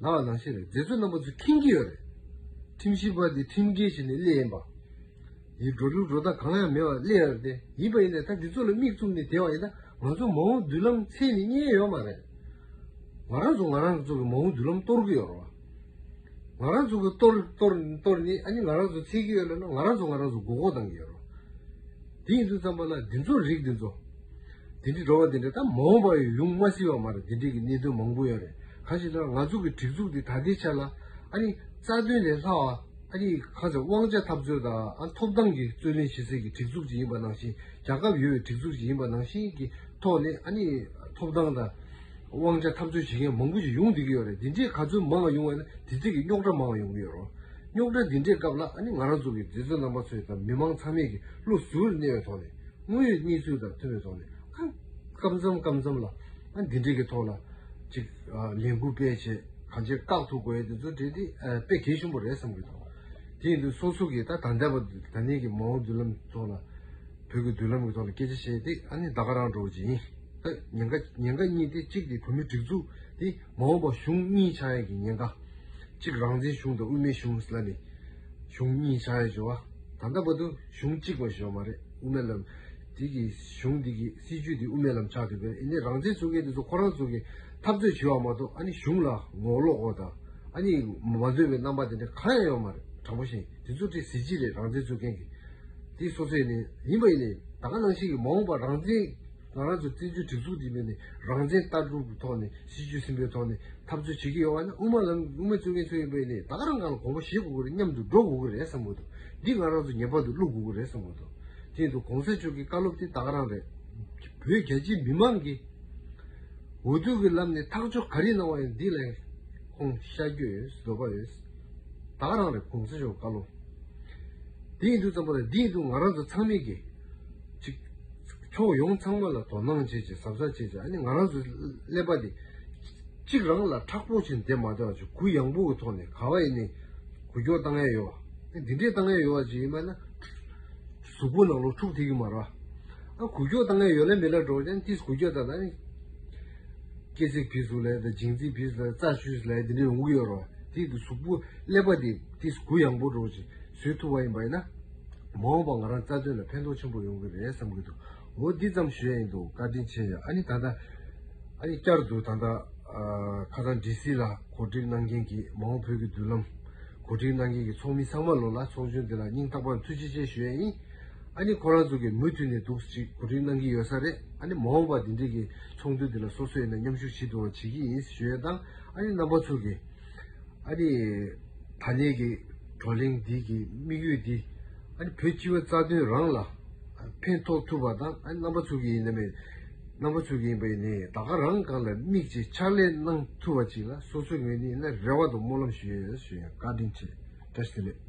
S1: ལ་བ་ལང་ཤི་རེད་མཛེས་བཟོ་རྣམ་པ་ཚོས་ཁེངས་ཀྱི་ཡོད་རེད། ཁྲིམས་ཞིབ་པ་འདི་ཁྲིམས་འགལ་བྱས་ནས་སླེ་ཡིན་པ། ཡི་སྒྲོ་གླུ་སྒྲོ་ད་གང་ཡང་མེད་བར་སླེ་ཡ་རེད་དེ་ཡིན་པ་ཡིན་ན་ད་འདི་ཚོ་ལ་མིག་བཙུམ་ནས་དེད་བ་ཡིན་ན་ང་ཚོ་མ་འོངས་མདུན་ལམ་ཚད་ནི་རྙེད་ཡོད་མ་རེད། ང་རང་ཚོ་ང་རང་ཚོ་གི་མ་འོངས་མདུན་ལམ་གཏོར་གི་ཡོད་རེད་བ། ང་རང་ཚོ་གི་གཏོར་གཏོར་གཏོར་ནི་ཨ་ནི་ང་རང་ཚོ་ཚད་ཀྱི་ཡོད་ལ་ན་ང་རང་ཚོ་ང་རང་ཚོ་མགོ་སྐོར་བཏང་གི་ཡོད་རེད་བ། དེ་ཡིན་དུས་ཙམ་པ་ལ་འདི་ཚོ་རིགས་འདི་ཚོ། དེ་འདྲི་འགྲོ་བ་འདི་འདྲ་ད་མ་འོངས་པ་ཡང་ཡོང་མ་སྲིད་པ་མ་རེད་དེ་འདྲི་གི་གནད་དོན་མང་པོ་ཡོད་རེད་གང་ཞིག་ན་ང་ཚོ་གི་སྒྲིག་འཛུགས་འདི་ད་ལྟའི་ཆ་ལ་ཨ་རི་རྩ་དོན་ལས་ལྷག་ཨ་རི་གང་ཟེར་དབང་ཆ་འཐབ་རྩོད་དང་ཨ་ཐོབ་ཐང་གི་རྩོད་ལེན་བྱེད་སའི་གི་སྒྲིག་འཛུགས་ཅིག་ཡིན་པ་ནང་བཞིན་རྒྱ་ཁབ་ཡོད་པའི་སྒྲིག་འཛུགས་ཅིག་ཡིན་པ་ནང་བཞིན་གི་ཐོག་ནས་ཨ་རི་ཐོབ་ཐང་དང་དབང་ཆ་འཐབ་རྩོད་བྱེད་མཁན་མང་པོ་ཞིག་ཡོང་བསྡད་གི་ཡོད་རེད་དེ་འདྲའི་ག་ཚོད་མང་ཡོང་བས་ན་དེ་ཚད་གི་རྙོག་དྲ་མང་ཡོང་གི་ཡོད་རོ་རྙོག་དྲ་འདི་འདྲའི་སྐབས་ལ་ཨ་རི་ང་རང་ཚོ་གི་འབྲེལ་བརྩོད་རྣམ་པ་ཚོས་དང་མི་མང་ཚང་མས་གི་བློ་གཟུར་བར་གནས་པའི་ཐོག་ནས། དངོས་ཡོད་གནས་ཚུལ་དང་མཐུན་པའི་ཐོག་ནས་སྐབས་མཚམས་སྐབས་མཚམས་ལ་འདི་འདྲི་གི་ཐོག་ལ་ཅིག་ལས་འགུལ་སྤེལ་ཆེད་གང་ཅིར་བཀག་ཐུག་དགོས་ཡོད་དེ་ཚོ་དེ་དེ་དཔེ་གལ་ཆེན་པོ་རེད་བསམ་གི་འདུག་དེ་ཡིན་དུས་སོ་སོ་གིས་ད་ད་འདས་པ་ད་ནས་ཀྱི་མ་འོངས་མདུན་ལམ་ཐོག་ལ་བོད་ཀྱི་མདུན་ལམ་གྱི་ཐོག་ལ་སྐད་ཆ་བཤད་དེ་ཨ་ནི་ད་ག་རང་འགྲོ་བ་ཅི་ཡིན་ད་ཉེན་ཁ་ཉེན་ཁ་གཉིས་དེ་གཅིག་དེ་བོད་མི་སྒྲིག་འཛུགས་དེ་མ་འོངས་པ་གཞུང་གཉིས་ཆགས་ཡས་ཀྱི་ཉེན་ཁ། གཅིག་རང་བཙན་གཞུང་དང་དབུས་མའི་གཞུང་ལ་ནི་གཞུང་གཉིས་བྱ་ཡི་བྱོ་བ། ད་ལྟ་བར་དུ་གཞུང་གཅིག་པ་བྱོ་བ་རེད་དབུ་མེད་ལམ། དེ་གི་གཞུང་དེ་གི་སྲིད་བྱུས་དེ་དབུ་མེད་ལམ་ཆགས་འདུག་པས་ཨཱ་ནི་རང་བཙན་བཟུང་མཁན་དེ་ཚོ་ཁོ་རང་ཚོ་གི་འཐབ་རྩོད་བྱེད་བ་མ་གཏོགས་ཨཱ་ནི་གཞུང་ལ་ངོ་ལོག་གོ་དང་ཨཱ་ནི་མ་འདོད་པའི་རྣམ་པ་དེ་འདྲ་གང་ཡང་ཡོད་མ་རེད་དྲང་པོ་བཤད་ཡིན་དེ་ཚོ་ཀྱི་གཟི་བརྗིད་རེད་རང་བཙན་བཟུང་མཁན་གི་དེ་སོ་སོའི་ནི་ཡིན་པ་ཡིན་ནི་ད་ག་ནང་བཞིན་གི་མ་འོངས་པ་རང་བཙན། ང་རང་ཚོ་བཙན་བྱོལ་སྒྲིག་འཛུགས་འདིའི་ངོས་ནས་རང་བཙན་ལྟ་གྲུབ་ཀྱི་ཐོག་ནས་གཞི་བཅོལ་ཟིན་པའི་ཐོག་ནས་འཐབ་རྩོད་བྱེད་ཀྱི་ཡོད་བ་ནི་དབུ་མ་ལམ་གྱི་དབུ་མའི་གཙོས་མཁན་ཚོ་ཡིན་པས་ནས་ད་ག་རང་ག་ལ་གོང་བུ་བཞེས་དགོས་ཀྱི་རེད་སྙམ་དུ་འགྲོ་དགོས་ཀྱི་རེད་བསམ་དགོས་འདུག་འདི་ང་རང་ཚོ་ངེས་པར་དུ་བསླུ་དགོས་ཀྱི་རེད་བསམ་དགོས་འདུག་དེ་འདུག་གོང་ས་མཆོག་གི་བཀའ་སློབ་དེ་ད་ག་རང་རེད། བོད་རྒྱ་ཆེའི་མི་མང་གིས་འོས་བསྡུ་གྱི་ལམ་ནས་ཐག་གཅོད་ག་རེ་གནང་བ་ཡང་འདི་ལས་ཁོང་ཤར་རྒྱུ་ཡོད་འདོད་པ་ཡོད། ད་ག་རང་རེད་གོང་ས་མཆོག་གི་བཀའ་སློབ་དེ་ཡིན་འདུག་བསམ་པ་དང་འདི་ཡིན་འདུག་ང་རང་ཚོ་ཚང་མས་ཀྱིས། གཅིག། ཕྱོགས་ཡོངས་ཚང་མ་ལ་དོ་སྣང་བྱེད་ཅིང་ཟབ་ས་བྱེད་ཅིང་ཨ་ནི་ང་རང་ཚོའི་ཀླད་པ་འདི་གཅིག་རང་ལ་ཁྲག་སྤོ་བྱེད་འདེད་མ་བདེ་བ་ཅིག་གུ་ཡངས་པོ་གི་ཐོག་ནས་ག་བ་ཡིན་ནི་གུ་སྐྱོག་བཏང་ཡས་ཡོད་བ། འདི་འདྲས་བཏང་ཡས་ཡོད་བ་ཅིག་ཡིན་པ་ན། གཟུགས་པོ་ནང་ལོག་འཁྲུགས་ཐིག་གི་མ་ར་བ། ཨ་གུ་སྐྱོག་བཏང་ཡས་ཡོད་ལ་མི་ལ་འགྲོགས་ཀྱང་ཏིས་གུ་སྐྱོག་ད་ད་ཨ་ནི། སྐེ་ཚིགས་བིས་སུ་ལའི་ད་འཇིང་ཚིགས་བིས་སུ་ལའི་རྩ་ཆུས་སུ་ལའི་འདི་འདྲས་འུག་ཡོད་ར་བ། དེའི་ཏིས་གུ་ཀླད་པ་འདི་ཏིས་གུ་ཡངས་པོ་འགྲོགས་ཅིང། བཟོས་ཐུབ་པ་ཡིན་པ་ཡིན་ན། མ་འོངས་པར་ང་རང་རྩ་དོན་ལ་ཕན་ཐོགས་ཆེན་པོ་ཡོང་གི་རེད་བསམ་གྱི་འདུག་འོ་འདི་ཙམ་ཞུས་ཡ་ཡིན་འདུག་བཀའ་དྲིན་ཆེ་ཡོད་ཨ་ནི་ད་ལྟ། ཨ་ཡིག་བསྐྱར་དུ་ད་ལྟ། ཁ་སང་ཀྲི་སི་ལ་གོ་སྒྲིག་གནང་མཁན་གྱི་མ་འོངས་བོད་ཀྱི་མདུན་ལམ། གོ་སྒྲིག་གནང་མཁན་གྱི་ཚོགས་མི་ཚང་མ་ལོ་ལ་ཚོགས་ཆུང་འདི་ལ་སྙིང་ཐག་པར་ཐུགས་རྗེ་ཆེ་ཞུས་ཡ་ཡིན། ཨ་ནི་ཁོ་རང་ཚོ་གིས་མུ་མཐུད་ནས་དུག་ཅིག་གོ་སྒྲིག་གནང་གི་ཡོད་ས་རེད་ཨ་ནི་མ་འོངས་པར་འདི་འདྲིའི་གི་ཚོགས་འདུ་འདི་ལ་སོ་སོས་ཡིན་ན་མཉམ་ཞུགས་ཇི་དུ་འང་བྱེད་ཀྱི་ཡིན་ཞུས་ཡ་དང་ཨ་ནི་རྣམ་པ་ཚོ་གིས། ཨ་ནི། ད་ནས་ཀྱི་བགྲོ་གླེང་འདི་གི་དམིགས་ཡུལ་འདི། ཨ་ནི་བོད་སྤྱི་བའི་རྩ་དོན་རང་ལ་ཕན་ཐོགས་ཐུབ་པ་དང་ཨ་ནི་རྣམ་པ་ཚུགས་ཀྱི་ཡིན་ནམ་མེད། རྣམ་པ་ཚུགས་ཀྱི་ཡིན་པ་ནི་ད་ག་རང་གང་ལ་དམིགས་ཅེས་ཕྱག་ལས་གནང་ཐུབ་པ་ཅིག་ལ་སོ་སོའི་ངོས་ནས་ནི་རེ་བ་དང་སྨོན་ལམ་ཞུ་ཡོད་ཞུ་ཡང་བཀའ་དྲིན་ཆེ་བཀྲ་ཤིས་བདེ་ལེགས།